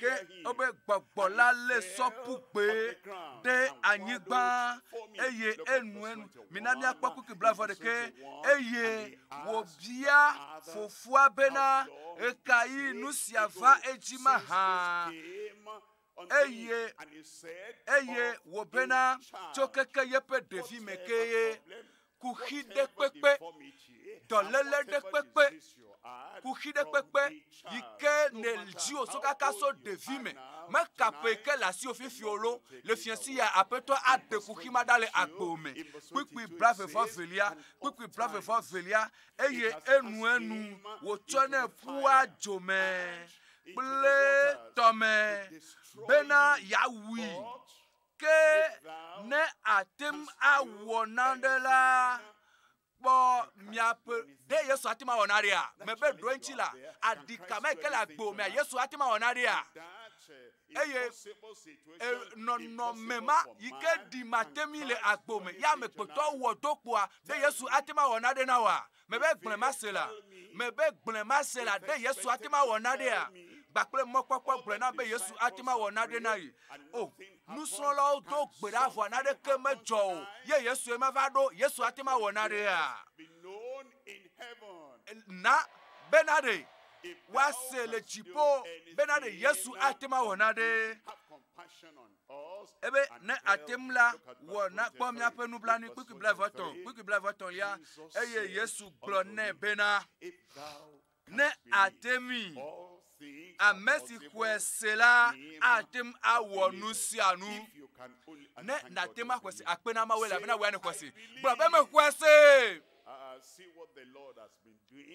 ke wobe gbɔgbɔ la lé sɔ ƒu kpee ɖe anyigba eye enu enu. Mina míakpɔ kuki blaeve ɖekɛ. Eye wòbia fofoa bena, Ɣekaɣi nu sia va edzi mahã? eye eye wòbena tso keke yeƒe ɖevime kee kuxi ɖe kpekpe, dɔléle ɖe kpekpe, kuxi ɖe kpekpe yi ke nèdzi wò so kaka so ɖevime mekaƒe ke le asiwò fifia o lo, le fiasi ya aƒetɔ aɖe kuxi ma ɖa le agbo me. Kpukpui blaeve-vɔ velia, kpukpui blaeve-vɔ velia, eye enuenu wòtsɔnɛ ƒua dzomee kple tɔme bena yeawui. Ke ne ate ŋu awɔ naɖe la, kpɔ miaƒe ɖe Yesu ate ŋu awɔ naɖea? Mebe ɖo eŋuti la, aɖi kame ke le agbo mea Yesu ate ŋu awɔ naɖea? Eye e, nɔnɔme ma yi ke ɖi mateŋui le agbo me ya ame kpɔtɔ wɔ do kpɔa ɖe Yesu ate ŋu awɔ naɖe na wa? Mebe gblẽ ma se la. Mebe gblẽ ma se la ɖe Yesu ate ma wɔ naɖea? Gba kple mɔkpɔkpɔ gblẽ na be Yesu ate ma wɔ naɖe na yi. O, oh, nusrɔ̃lawo do gbe ɖa vɔa naɖeke medzɔ o. Ye Yesue ma va ɖo, Yesu ate ma wɔ naɖea? Na be naɖe woase le dziƒo be naɖe Yesu ate ma wɔ naɖe. ebe ne ate ŋu la, wɔ nakpɔ míaƒe nublanui kpukpui blavetɔ̃, kpukpui blavetɔ̃lia, eye Yesu gblɔ nɛ bena, ne ate ŋui, ame si xɔe se la ate ŋu awɔ nu sia nu. Ne nate ŋu axɔe se akpe na Mawu elabena wɔe ne xɔe se. Gblɔ be mexɔe se.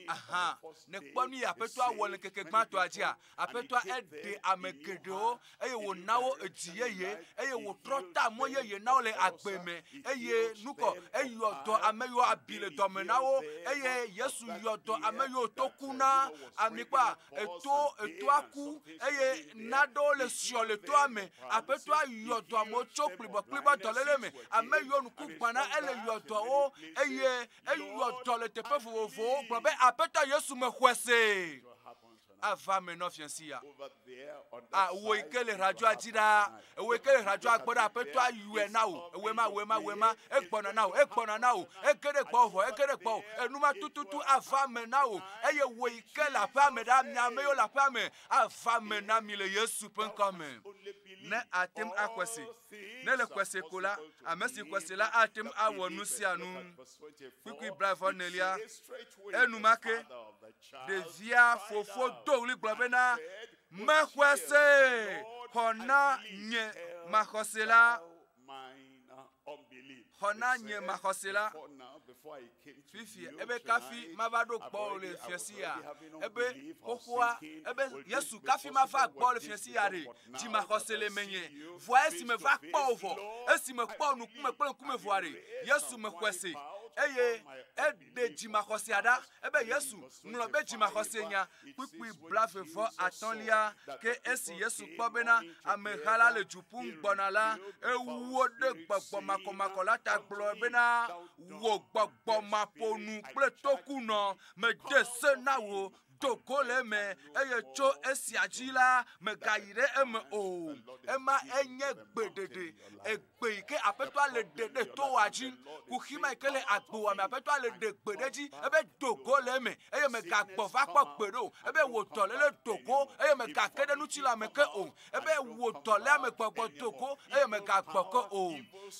Aha, nekpɔ nu yi Aƒetɔa wɔ le ŋkeke gbãtɔa dzia, Aƒetɔa eɖe ame geɖewo eye wòna wo edzi yeye eye wòtrɔ ta mɔ yeye na wo le agbe me eye nukɔ eyɔ dɔ ame yiwo abi le dɔme na wo eye Yesu yɔ dɔ ame yiwo to ku na ami kpɔa eto etoa ku eye naɖewo le siɔ le toa me aƒetɔa yɔ dɔ amewo tso kplibɔkplibɔ dɔléle me ame yiwo nuku gbana ele yɔ dɔwo eye eyɔ dɔ le teƒe vovovowo gblɔ be aƒetɔ yesu mexɔe se ava me nɔ fiasi ya awo yi ke le radzɔa dzi ɖaa Ewɔe ke hra dzɔ akpɔ ɖe aƒetɔ ayɔe na wò. Ewɔe ma, ewɔe ma, ewɔe ma. Egbɔna na wò, egbɔna na wò. Eke ɖe gbɔwò vɔ, eke ɖe gbɔwò. Enu ma tututu ava eme na wò. Eye wò yi ke le aƒea me ɖa, mi ame yiwo le aƒea me, ava eme na mi le Yesu ƒe ŋkɔ me. Ne àte ŋu axɔe se. Ne èle xɔe se ko la, ame si xɔe se la ate ŋu awɔ nu sia nu. Kpukpui blaeve-vɔ-enelia, enumake ɖevia fofo do ɣli gblɔ bena, Mexɔa see xɔ na nye maxɔse la. Xɔ na nye maxɔse la. Fifi ebe kafi mava ɖo kpɔ le fiasi ya. Ebe xoxoa ebe Yesu kafi mava kpɔ le fiasi ya ɖe. Dzi maxɔse le menye. Vɔa esi me va kpɔ o vɔ. Esi me kpɔ nukume kple ŋkume vɔa ɖe. Yesu me xɔe se eye e ɖe dzimaxɔsea ɖa ebe Yesu ŋlɔ be dzimaxɔsenya kpukpui blaeve vɔ atɔ̃lia. Ke esi Yesu kpɔ bena ameha la le du ƒum gbɔna la, ewu wo ɖe gbɔgbɔ makɔmakɔ la ta gblɔ bena, Wò gbɔgbɔ maƒonu kple tokunɔ mede se na wò do go le eme eye tso esia dzi la mègayi ɖe eme o ema enye gbeɖeɖe egbe yi ke aƒetɔa le ɖe ɖe toa dzi kuxi ma yi ke le agboa me aƒetɔa le ɖe gbe ɖe dzi ebe do go le eme eye mègagbɔ va kpɔ gbe ɖo ebe wò dɔléle do go eye mègake ɖe ŋuti la me ke o ebe wò dɔléa me gbɔgbɔ do go eye mègagbɔ ke o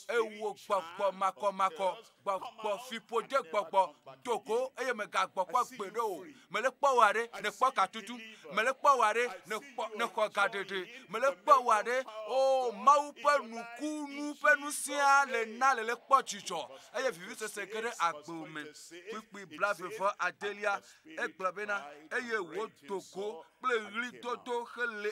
eye wò gbɔgbɔ makɔmakɔ gbɔgbɔ fiƒode gbɔgbɔ do go eye mègagbɔkpɔ gbeɖe o mele kpɔ wòa ɖe nèkpɔ gatutu mele kpɔ wòa ɖe nèkpɔ nèxɔ gaɖeɖe mele kpɔ wòa ɖe o oh, mawu ƒe nukunu ƒe nusia le na le le kpɔ dzidzɔ eye vivisese ge ɖe agbe me kpukpui blaeve vɔ adelia egblɔ bena eye wòdo go kple ɣlidodo hele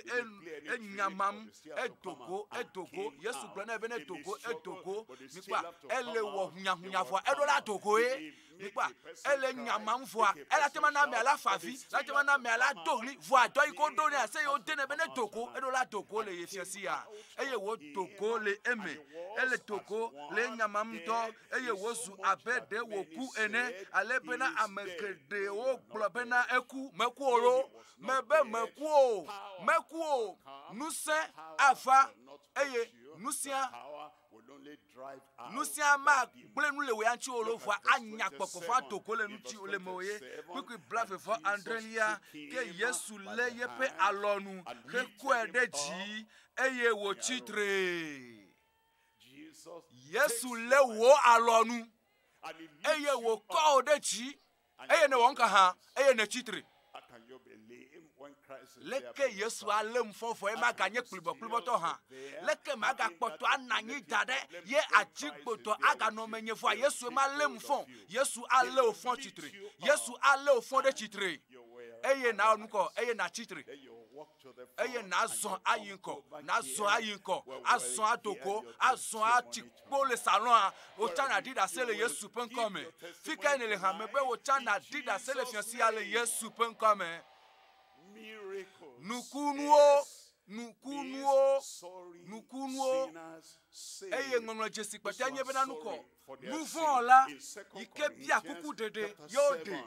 enyamam edogo edogo yesu gblɔ nɛ bene dogo edogo mikpa ele wɔ hunyahunya vɔa eɖo la dogoe mikpa ele nyamam vɔa ela tema na amea la favi la tema na amea la do ɣli vɔa dɔ yi ko do nɛ ase yewo denɛ bene dogo eɖo la dogo le ye fiasia eye wò dogo le eme ele dogo le nyamam ŋutɔ eye wòzu abe ɖe wòku ene, ale bena ame geɖewo gblɔ bena eku. Meku o loo? Mebe meku o. Meku o. Ŋusẽ ava, eye ŋusẽa, ŋusẽa magblẽ nu le wò ya ŋuti o loo, vɔa anya gbɔgbɔ vɔ̃a do go le ŋuti o, le mewò ye. Kpukpui blaeve vɔ adrelia ke Yesu lé yeƒe alɔnu hekɔe ɖe dzi, eye wòtsi tre. Yesu lé wò alɔ nu eye wòkɔ wò ɖe dzi eye nèwɔ nuka hã eye nètsi tre. Leke Yesu alé ŋfɔ vɔe maganye kplibɔkplibɔtɔ hã? Leke magakpɔtɔ ana anyi da ɖe ye adzigbotɔ aganɔ menye vɔa Yesu malé ŋfɔ? Yesu alé wò fɔ tsitre. Yesu alé wò fɔ ɖe tsitre eye nàwɔ nukɔ eye nàtsi tre. eye nàzɔ ayi ŋkɔ nàzɔ ayi ŋkɔ azɔ ado go azɔ atsi kpo le salɔa wotsã nàɖi ɖase le yesu ƒe ŋkɔ me fi ka nèle hame be wotsã nàɖi ɖase le fiasia le yesu ƒe ŋkɔ me nukunuwo nukunuwo nukunuwo eye ŋɔŋlɔ dzesi kpɔtɔe nye bena nukɔ nuvɔla yi ke bia kuku ɖeɖe yewo ɖe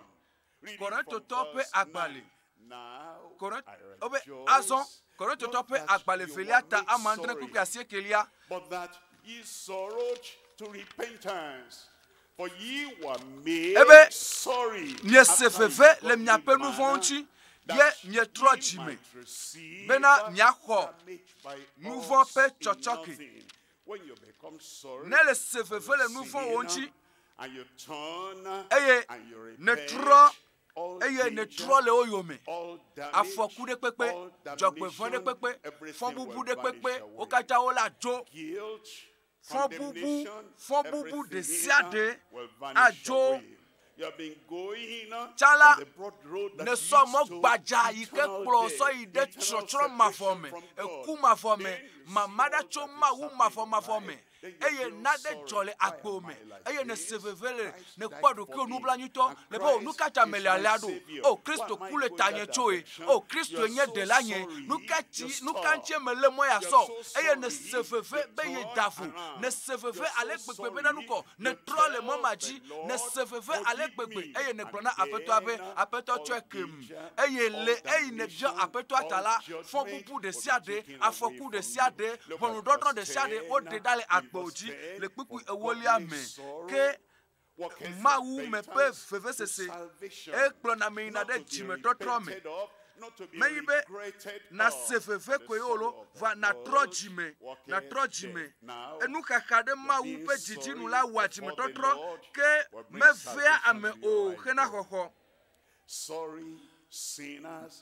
Korintotɔ ƒe agbalẽ, Korint, wobe azɔ Korintotɔ ƒe agbalẽ velia ta ama andre kpukpui asiekelia. But that ye sorrowed to repentance. For ye were made Ebe sorry miese veve le miaƒe nu vɔ̃ ŋuti, ye mietrɔ dzi me bena miaxɔ nu vɔ̃ ƒe tsɔtsɔke. Nèle se veve le nu vɔ̃wò ŋuti, eye nètrɔ, eye nètrɔ le wo yome. Afɔku ɖe kpekpe, dzɔgbevɔ̃ ɖe kpekpe, fɔbubu ɖe kpekpe, wo katã wole adzo. Fɔbubu, fɔbubu ɖe sia ɖe adzo Tsã la, nèsɔ mɔ gbadza yi ke kplɔ sɔ yi ɖe tsrɔtsrɔ̃ mavɔ me, eku mavɔ me, mama ɖa tso Mawu mavɔmavɔ me, eye naɖe dzɔ le agbo me, eye nèse veve le nèkpɔ ɖokuiwò nublanuitɔ le be, O nu ka ta mele alea ɖo? O Kristo ku le tanye tsoe. O Kristoe nye Ɖelanye. Nu ka ti, nu ka ŋutie mele mɔ yeasɔ? Eye nèse veve be yeda vo. Nèse veve ale gbegbe be nanukɔ Nètrɔ le mɔ ma dzi, nèse veve ale gbegbe, eye nègblɔ na Aƒetɔa be, Aƒetɔ tsɔe kem. Eye le eyi nèbiɔ Aƒetɔa ta la, fɔbubu ɖesiaɖe, afɔku ɖesiaɖe, ʋɔnudɔdrɔ̃ ɖesiaɖe, woɖe ɖa le agbewo dzi le kpukpui ewolia me. Ke Mawu me ƒe vevesese, ekplɔna ame yina ɖe dzimetɔtrɔ me. Menyi be nàse veve koe o loo, vɔ nàtrɔ dzi me, nàtrɔ dzi me. Enuxaxa ɖe Mawu ƒe didi nu la wɔa dzimetɔtrɔ, ke mevea ame o hena xɔxɔ.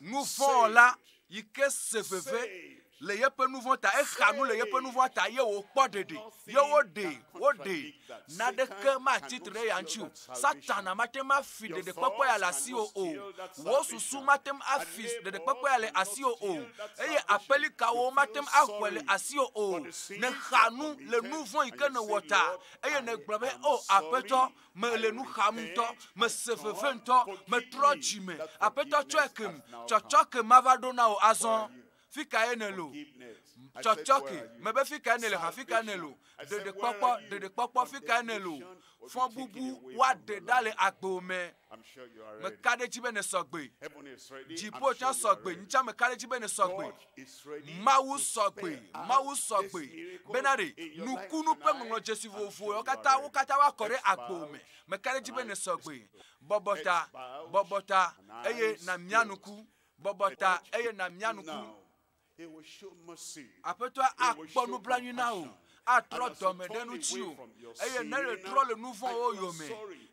Nuvɔ̃wɔla yi ke se veve le yeƒe nu vɔ̃ ta exa nu le yeƒe nu vɔ̃ ta ye wòkpɔ ɖeɖe ye woɖee woɖee naɖeke matsi tre ɖe ya ŋuti o satana mate ŋu afi ɖeɖekpɔkpɔ ya le asiwò o wò susu mate ŋu afi ɖeɖekpɔkpɔ ya le asiwò o eye aƒelikawo mate ŋu axɔe le asiwò o nèxa nu le nu vɔ̃ yi ke nèwɔ ta eye nègblɔ be o oh, aƒetɔ mele nu xam ŋutɔ mese veve ŋutɔ metrɔ dzi me aƒetɔ tsɔe kem tsɔtsɔ ke mava ɖo na wò azɔ fi kae nèlo tsɔtsɔke mebe fi kae nèle ha fi kae nèlo ɖeɖekpɔkpɔ ɖeɖekpɔkpɔ fi kae nèlo fɔbubu woaɖe ɖa le agbo me meka ɖe dzi be ne sɔgbe dziƒo tsã sɔgbe ntsã meka ɖe dzi be ne sɔgbe mawu sɔgbe mawu sɔgbe bena ɖe nukunu ƒe ŋɔŋlɔ dzesi vovovowo katã wo katã woakɔ ɖe agbo me meka ɖe dzi be ne sɔgbe bɔbɔta bɔbɔta eye na mia nuku Bɔbɔ ta eye nàmia nu kplu. Aƒetɔa akpɔ nublanui na wò, atrɔ dɔme ɖe ŋutiwò, eye ne nètrɔ le nu vɔ̃wo yome,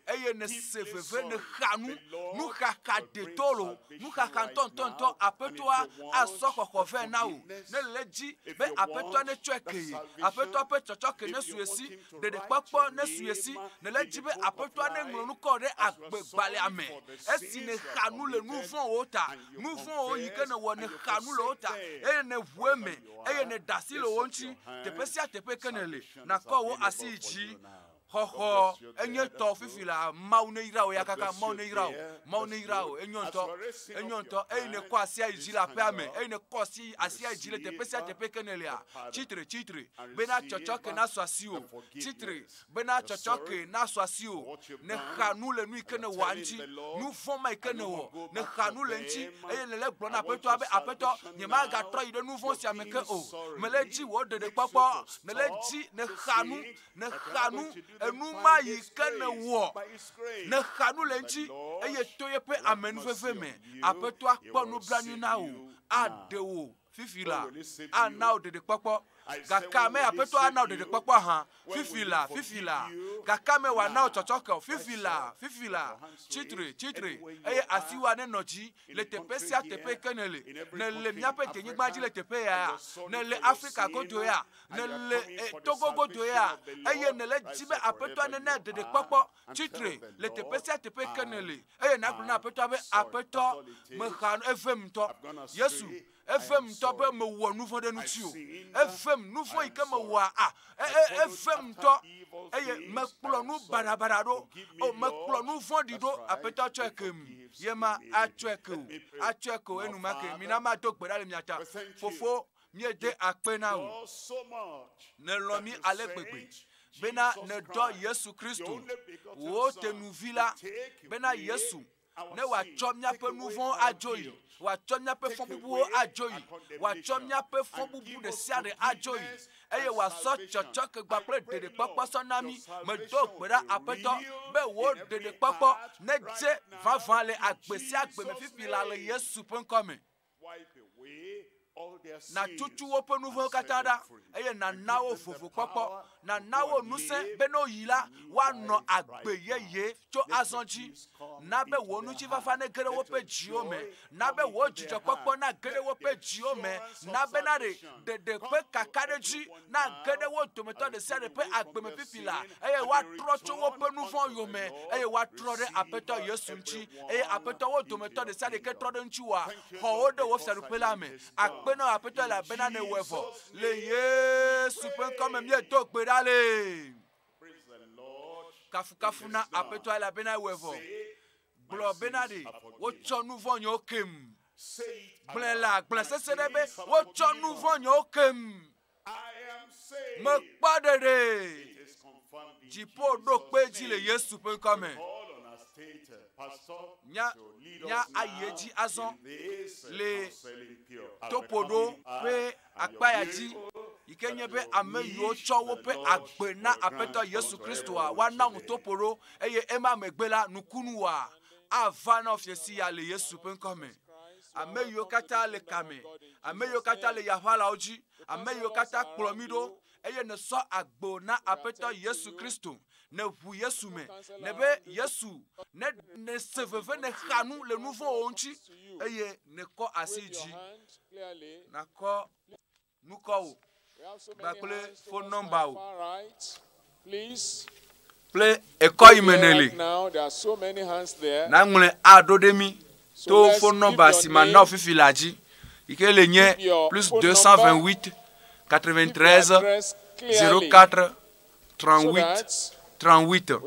eye nèse veve, nèxa nu, nuxaxa ɖetɔ lo, nuxaxa ŋutɔŋutɔŋutɔ, Aƒetɔa asɔ xɔxɔ vɛ na wò. Ne nèle edzi be Aƒetɔa netsɔe kee, Aƒetɔa ƒe tsɔtsɔke nesu esi, Ɖeɖekpɔkpɔ nesu ye si. Nèle edzi be Aƒetɔa neŋlɔ nu kɔ ɖe agbegbalẽa me. Esi nèxa nu le nu vɔ̃wo ta, nu vɔ̃wo yi ke nèwɔ, nèxa nu le wo ta, eye nèʋu eme, eye nèɖe asi le wo ŋuti, teƒe sia teƒe yi ke nèle, nàkɔ wò asi yi dzi. Xɔxɔ, enye tɔwò fifi laa. Mawu neyra wò eya kaka. Mawu neyra wò. Mawu neyra wò. Enyo ŋutɔ. Enyo ŋutɔ. Eye nèkɔ asia yi dzi le aƒea me. Eye nèkɔ asi, asia yi dzi le teƒe sia teƒe yi ke nèlea. Tsi tre, tsi tre. bena tsɔtsɔke nasu asiwò, tsi tre bena tsɔtsɔke nasu asiwò, nèxa nu le nu yi ke nèwɔa ŋuti, nu vɔ̃ ma yi ke nèwɔ, nèxa nu le eŋuti, eye nèle egblɔm na Aƒetɔa be, Aƒetɔ, nyemagatrɔ yi ɖe nu vɔ̃ sia me ke o. Mele edzi wò ɖeɖekpɔkpɔ, nèle edzi nèxa nu, nèxa nu, enu ma yi ke nèwɔ, nèxa nu le eŋuti, eye to yeƒe amenuveve me, Aƒetɔa kpɔ nublanui na wò, aɖe wò Fifi la, ana wò ɖeɖekpɔkpɔ. Gakeamɛ Aƒetɔ ana wò ɖeɖekpɔkpɔ hã. Fifi la, fifi la, gakeamɛ wòana wò tsɔtsɔke o. Fifi la, fifi la, tsi tre, tsi tre, eye asiwòa nenɔ dzi le teƒe sia teƒe yi ke nèle. Nèle míaƒe denyigba dzi le teƒe ya, nèle Afrika godo ya, nèle e, Togo godo ya, eye nèle di be Aƒetɔa nena ɖeɖekpɔkpɔ. Tsi tre le teƒe sia teƒe yi ke nèle. eye nagblɔ na aƒetɔa be aƒetɔ mexa nu evem ŋutɔ yesu evem ŋutɔ be mewɔ nu vɔ̃ ɖe ŋuti o evem nu vɔ̃ yi ke mewɔa a e, e, evem ŋutɔ eye mekplɔ nu baɖabaɖa ɖo o mekplɔ nu vɔ̃ɖi ɖo aƒetɔ tsɔe ke mi ye ma atsɔe ke o atsɔe ke o enumake mina mado gbe ɖa le mia ta fofo Míede akpe na wò, nèlɔ̃ mí ale gbegbe, bena nèdɔ Yesu Kristo, wò tenuvi la, bena Yesu, ne wòatsɔ míaƒe nu vɔ̃wo adzoe, wòatsɔ míaƒe fɔbubuwo adzoe, wòatsɔ míaƒe fɔbubu ɖe sia ɖe adzoe, eye wòasɔ tsɔtsɔkegba kple ɖeɖekpɔkpɔ sɔ na mí. Medo gbe ɖa, Aƒetɔ, be wò ɖeɖekpɔkpɔ nedze vavã le agbe sia agbe me fifi laa le Yesu ƒe ŋkɔ me. Nàtutu woƒe nu vɔ̃wo katã ɖa, eye nàna wo vovokpɔkpɔ. Nàna wo ŋusẽ be ne woyi la, woanɔ agbe yeye tso azɔ dzi. Na be wò ŋutifafa nege ɖe woƒe dziwo me. Na be wò dzidzɔkpɔkpɔ nage ɖe woƒe dziwo me. Na be naɖe ɖeɖe ƒe kakaɖedzi nage ɖe wo dometɔ ɖe sia ɖe ƒe agbe me fifi la eye woatrɔ tso woƒe nu vɔ̃ yome eye woatrɔ ɖe aƒetɔ yesu ŋuti eye aƒetɔ wo dometɔ ɖe sia ɖeke trɔ ɖe ŋutiwoa xɔ wo ɖe wo fiaɖuƒe la me akpe na aƒetɔ elabena newɔe vɔ le yesu ƒe ŋkɔ me míedo gbe ɖa le kafukafu na aƒetɔ elabena ewɔe vɔ gblɔ bena ɖe wotsɔ nu vɔ̃ nyewo kem. Gblɔe le agble sese ɖe be wotsɔ nu vɔ̃ nyewo kem. Mekpɔ ɖeɖe dziƒo ɖo kpe dzi le Yesu ƒe ŋkɔ me. Nya nya ayi edzi azɔ le topoɖo ƒe akpaya dzi, yi ke nye be ame yiwo tsɔ woƒe agbe na Aƒetɔ Yesu Kristoa woana ŋu toƒo ɖo, eye ema megbe la, nukunu wa ava na wofia siya le Yesu ƒe ŋkɔ me. Ame yiwo katã le ka me, ame yiwo katã le yaʋalawo dzi, ame yiwo katã kplɔ mí ɖo, eye nèsɔ agbo na Aƒetɔ Yesu Kristo, nèʋu Yesu me, nèbe Yesu, ne nèse veve, nèxa nu le nu vɔ̃wo ŋuti, eye nèkɔ asi dzi, nakɔ nukɔwo kpakple fon nɔmbawo kple ekɔ yi me nèle, naŋlɔe aɖo ɖe mí to phone number si mana wo fifi la dzi yi ke le nye plus 228 93 04 38 38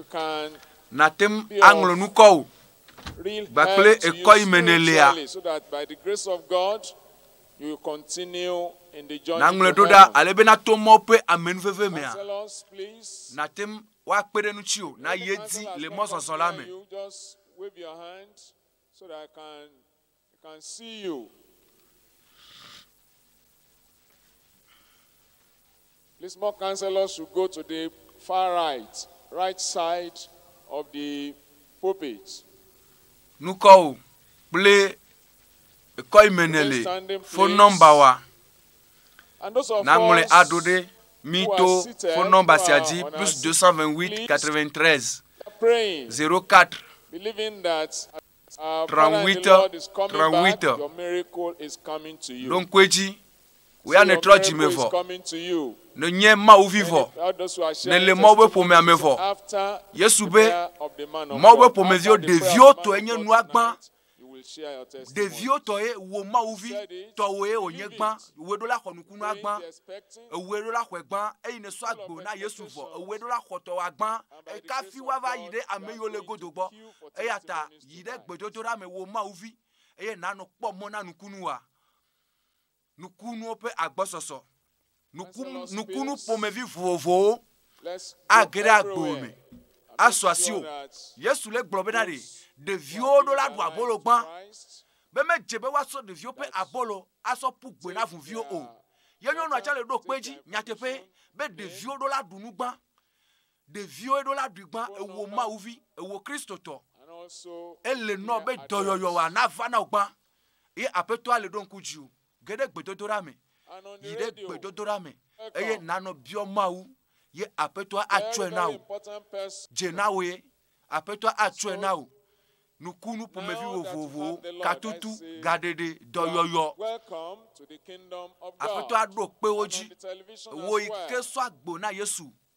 nàte ŋu aŋlɔ nukɔwo gbakple ekɔ yi me nèlea naŋlɔe ɖo ɖa ale be nato mɔ ƒe amenuveve mea nàte ŋu woakpe ɖe ŋutiwò na ye di le mɔzɔzɔ la me Wave your hand so that I can I can see you. Please more councillors should go to the far right right side of the pulpit. Nukɔ o kple ekɔ yi me ne le phone number wa Naŋlɔe aɖo ɖe mí to fonɔmba sia dzi, plus 228 93 04 38 38. Ɖo ŋku edzi, wò ya nètrɔ dzi me vɔ, nènye Mawu vi vɔ, nèle Mawu ƒe ƒomea me vɔ. Yesu be, Mawu ƒe ƒomeviwo ɖeviwo tɔe nye nua gbã. Ɖeviwo tɔ ye wò mawuvi tɔ wò ye wònye gbã, wòe ɖo la xɔ nukunua gbã, ewòe ɖo la xɔe gbã, eyi ne sɔ agbe na Yesu vɔ, ewòe ɖo la xɔ tɔwòa gbã, ekafi woava yi ɖe ame yiwo le godo gbɔ. Eya ta yi ɖe gbedodoɖa me wò mawuvi, eye nànɔ kpɔ mɔ na nukunuwòa. Nukunuwo ƒe agbɔsɔsɔ. Nukunu, nukunu ƒomevi vovovowo age ɖe agbo me asu asiwò. Yesu le gblɔ bena ɖe ɖeviwo ɖo la ɖu abolo gbã, be medze be woasɔ ɖeviwo ƒe abolo asɔ ƒu gbɔe na ʋuviwo o. Ye nyɔnua tsɛ le ɖo kpe edzi nyateƒee be ɖeviwo ɖo la ɖu nu gbã. Ɖeviwo ɖo la ɖuigba ewo mawuvi ewo kristotɔ. Ele nɔ be dɔyɔyɔ wa nava na wogba. Ye apetɔa le ɖo ŋku dziwo. Ge ɖe gbedodoɖa me. Yi ɖe gbedodoɖa me eye nanɔ biɔ Mawu ye apetɔa atsɔe na wò. Dze na wò ye apetɔa atsɔe na wò. Nukunu ƒomevi vovovowo, katutu, gaɖeɖe, dɔyɔyɔ. Apetɔa ɖo kpe wo dzi. Ewo yi ke sɔ agbo na Yesu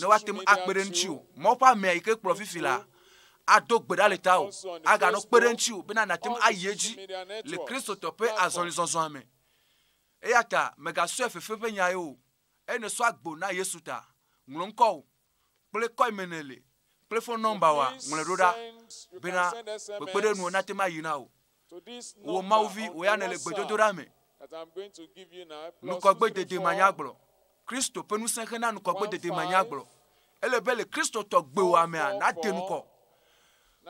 ne woate ŋu akpe ɖe ŋutiwò. Mawu ƒe amea yi ke kplɔ fifi la ado gbe ɖa le tawò, aganɔ kpe ɖe ŋutiwò bena nàte ŋu ayi edzi le Kristotɔ ƒe azɔlizɔzɔa me. Eya ta mègasɔe fefe ƒe nyae o. Eye ne èsɔ agbo na Yesu ta, ŋlɔ ŋkɔwò kple kɔime nèle kple fon nɔmbawoa, ŋlɔe ɖo ɖa bena kpekpeɖeŋuwo nate ŋu ayi na wò. Wò Mawu vi, wò ya nèle gbedodoɖa me. Ŋkɔgbedede manyagblɔ. Kristo ƒe ŋusẽ xe na ŋkɔgbedede manyagblɔ. Ele be le Kristotɔ gbewòa mea, nàde ŋkɔ.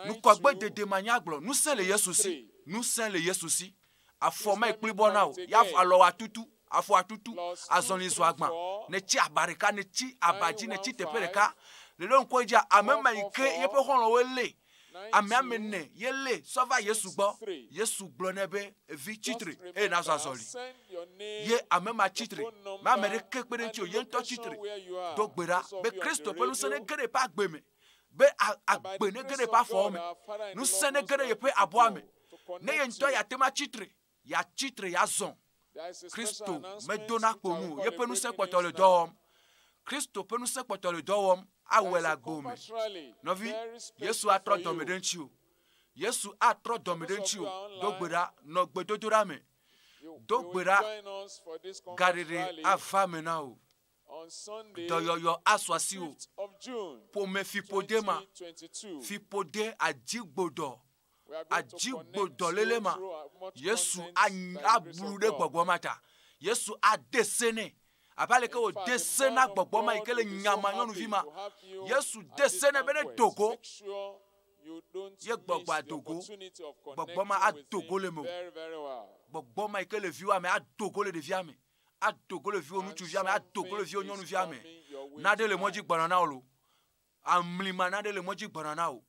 Ŋkɔgbedede manyagblɔ, ŋusẽ le Yesu si, ŋusẽ le Yesu si. Afɔ mekpli bɔ na wò, ya alɔ atutu, afɔ atutu, azɔli zu agbã. Nètsi aba ɖeka, nètsi aba dzi, nètsi teƒe ɖeka, nèɖo ŋku edzia, ame ma yi ke yeƒe xɔlɔ̃woe lée. Amea me ne yelé sɔ va Yesu gbɔ. Yesu gblɔ nɛ be, Vi tsitre, eye nazɔ azɔli. Ye ame ma tsitre, me ame ɖeke kpe ɖe eŋuti o, ye ŋutɔ tsitre, do gbe ɖa be Kristo ƒe ŋusẽ nege ɖe eƒe agbe me, be agbe nege ɖe eƒe afɔwo me, ŋusẽ nege ɖe yeƒe abɔa me, ne ye ŋutɔ yeate ŋu atsitre Yeatsi tre, yeazɔ. Kristo medona kpo nu o, yeƒe ŋusẽ kpɔtɔ le dɔ wɔm. Kristo ƒe ŋusẽ kpɔtɔ le dɔ wɔm awɔe le agbo me. Nɔvi, Yesu atrɔ dɔme ɖe ŋutiwò. Yesu atrɔ dɔme ɖe ŋutiwò. Do gbe ɖa, nɔ gbedodoɖa me. Do gbe ɖa, gaɖeɖe ava me na wò. Dɔyɔyɔ asu asiwò. Ƒomefiƒode ma, fiƒode adzigbodɔ, adzigbodɔléle ma, Yesu ablu ɖe gbɔgbɔ ma ta. Yesu ade se nɛ abe aleke wòde se na gbɔgbɔ ma yi ke le nyama nyɔnuvi ma. Yesu de se nɛ be nedo go ye gbɔgbɔ ado go. Gbɔgbɔ ma ado go le mewò. Gbɔgbɔ ma yi ke le viwòa me ado go le ɖevia me. ado go le viwò ŋutsuvia me, ado go le viwò nyɔnuvia me. Naɖe le mɔdzi gbɔna na wò lo. Amlima naɖe le mɔdzi gbɔna na wò.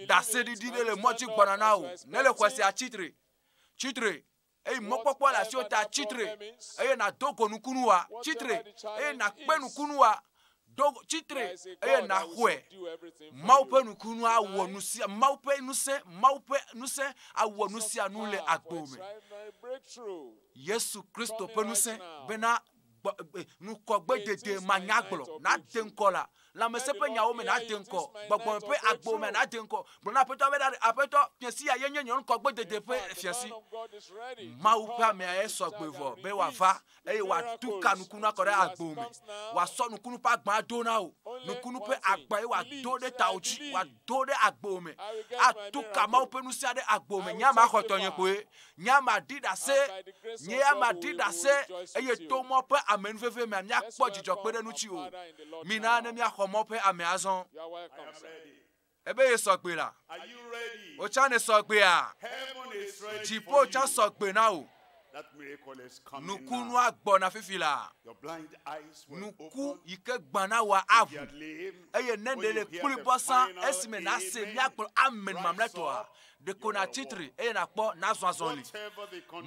Ɖaseɖiɖi ɖe le mɔdzi gbɔna na wò. Ne le xɔ sia tsitre, tsitre eye mɔkpɔkpɔ le asiwò ta tsitre eye nàdo go nukunuwoa, tsitre eye nàkpe nukunuwoa, Do tsi tre eye nàxɔe. Mawu ƒe nukunu awɔ nu sia Mawu ƒe ŋusẽ Mawu ƒe ŋusẽ awɔ nu sia nu le agbo me. Yesu Kristo ƒe ŋusẽ bena ŋkɔgbedede manyagblɔ nade ŋkɔ la lãmesẽ ƒe nyawo me nade ŋkɔ gbɔgbɔ ƒe agbo me nade ŋkɔ gblɔ na aƒetɔ be ɖa aƒetɔ fiasi ya yenye nye ŋkɔgbedede ƒe fiasi mawu ƒe amea esɔ gbevɔ be wòava eye wòatu ka nukunu akɔ ɖe agbo me. Wòasɔ nukunu ƒe agba ado na wò. Nukunu ƒe agba ye wòado ɖe tawò dzi, wòado ɖe agbo me. Atu ka Mawu ƒe ŋusẽa ɖe agbo me. Nye ama xɔ tɔnye koe. Nye ama ɖi ɖase. Nye ama ɖi ɖase eye to mɔ ƒe ame nuveve mea míakpɔ dzidzɔ kpe ɖe ŋuti o. Mina ne míaxɔ mɔ ƒe ame azɔ. Ebe ye sɔ gbe la. Wò tsã ne sɔ gbea? Dziƒo tsã sɔ gbe na wò. Nukunua gbɔna fifi la. Nuku yi ke gbana wòa aʋu. Eye ne ɖe le kpli bɔsa esime nàse míakplɔ amen mamlɛtɔa, ɖeko nàtsi tri eye nàkpɔ nazɔ azɔli.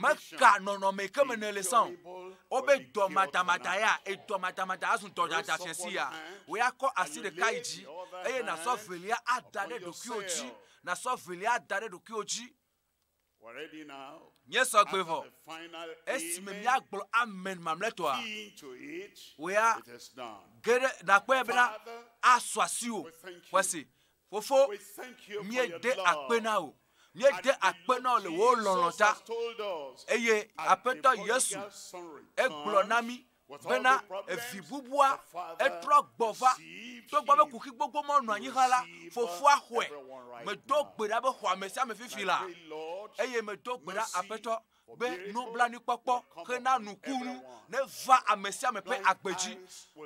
Meka nɔnɔme ke me nèle sã o. Wobe dɔmadamada ya, edɔmadamada azu dɔdada fiasi ya. Wò ya kɔ asi ɖeka yi dzi eye nàsɔ evelia ada ɖe ɖokuiwò dzi. Nàsɔ evelia ada ɖe ɖokuiwò dzi. Nye sɔgbe vɔ. Esime míagblɔ amen mamlɛtɔa, wò ya ge ɖe nàkpɔe bena asɔ asiwò. Xɔse. Fofo, míede akpe na wò. Míede akpe na wò le wò lɔlɔ̃ ta. Eye Aƒetɔ Yesu, egblɔ na mí bena evi bubua etrɔ gbɔ va. Togbɔ be kuxi gbogbo ma nɔ anyi hã la, Fofoa xɔe. Medo gbe ɖa be xɔ ame sia ame fifi la. Eye medo gbe ɖa, Aƒetɔ, be nublanuikpɔkpɔ xe na nukunu neva ame sia ame ƒe agbe dzi.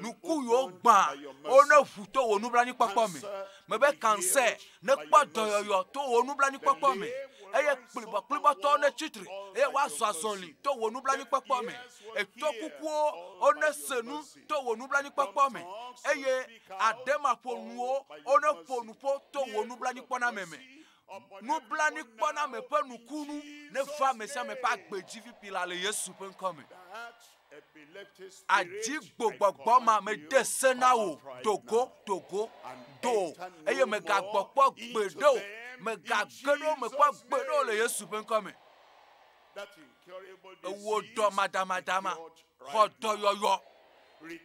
Nuku yiwo gbã, wo ne ʋu to wò nublanuikpɔkpɔ me. Mebe kansɛ nekpɔ dɔyɔyɔ to wò nublanuikpɔkpɔ me eye kplibɔkplibɔtɔwo netsi tre eye woazɔ azɔli to wò nublanuikpɔkpɔ me. Etɔ kukuwo wo nese nu to wò nublanuikpɔkpɔ me eye aɖemaƒonuwo wo neƒo nuƒo to wò nublanuikpɔname me. nublanuikpɔname ƒe nukunu neva amesiame ƒe agbe dzi ƒiƒila le Yesu ƒe ŋkɔ me. Adzigbogbogbɔ ma mede se na wò, do go, do go, do, eye mègagbɔ kpɔ gbeɖe o, mègage ɖe wo me kpɔ gbeɖe o le Yesu ƒe ŋkɔ me. Ewɔ dɔmadamadama, xɔ dɔyɔyɔ.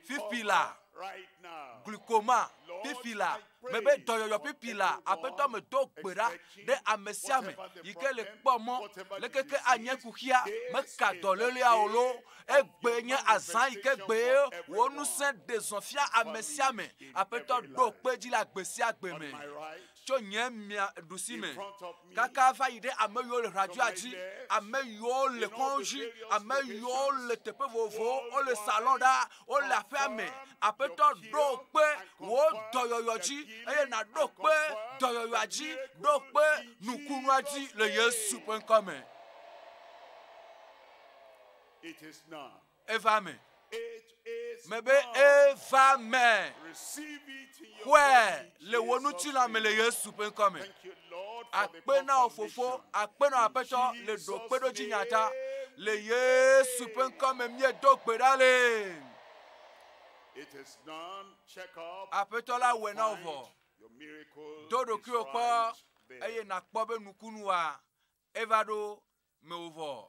Fifi la, glikoma, fifi la, mebe dɔyɔyɔ fifi la, Aƒetɔ medo gbe ɖa ɖe ame sia ame yi ke le kpɔ mɔ leke ke anye kuxia, meka dɔléleaa o loo, egbee nye azã yi ke gbee wò ŋusẽ ɖe zɔ fia ame sia ame. Aƒetɔ ɖo kpe edzi le agbe sia agbe me. tso nye mia ɖusi me kaka va yi ɖe ame yiwo le ʋladzɔa dzi, ame yiwo le kɔdzi, ame yiwo le teƒe vovovowo, wole salɔ ɖa, wole aƒea me. Aƒetɔ ɖo kpe wò dɔyɔyɔ dzi eye nàɖo kpe dɔyɔyɔa dzi, ɖo kpe nukunua dzi le Yesu ƒe ŋkɔ me. Eva me. Mebe eva me. Xɔe le wò ŋutilã me le Yesu ƒe ŋkɔ me. Akpe na wò fofo, akpe na wò aƒetɔ le ɖokpeɖodzi nya ta. Le Yesu ƒe ŋkɔ me míedo gbe ɖa le. Aƒetɔ la wɔ na wò vɔ. Do ɖokuiwò kpɔ eye nàkpɔ be nukunu wa eva ɖo mewò vɔ.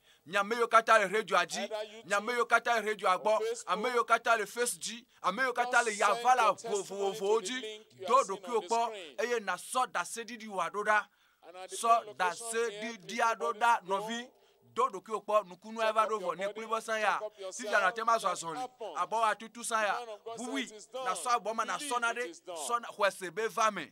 mi ame yiwo katã le radioa dzi, mi ame yiwo katã le radioa gbɔ, ame yiwo katã le face dzi, ame yiwo katã le yavala vovovowo dzi, do ɖokuiwò kpɔ eye nàsɔ ɖaseɖiɖiwòa ɖo ɖa. Sɔ ɖaseɖiɖia ɖo ɖa nɔvi. Do ɖokuiwò kpɔ nukunua eva ɖo vɔ nèkpɔe be sã ya. Fifia nàte ŋu azɔ azɔli. Abɔwòa tutu sã ya. Ʋuʋui, nàsɔ abɔ ma nàsɔ na ɖe sɔ na xɔse be va eme.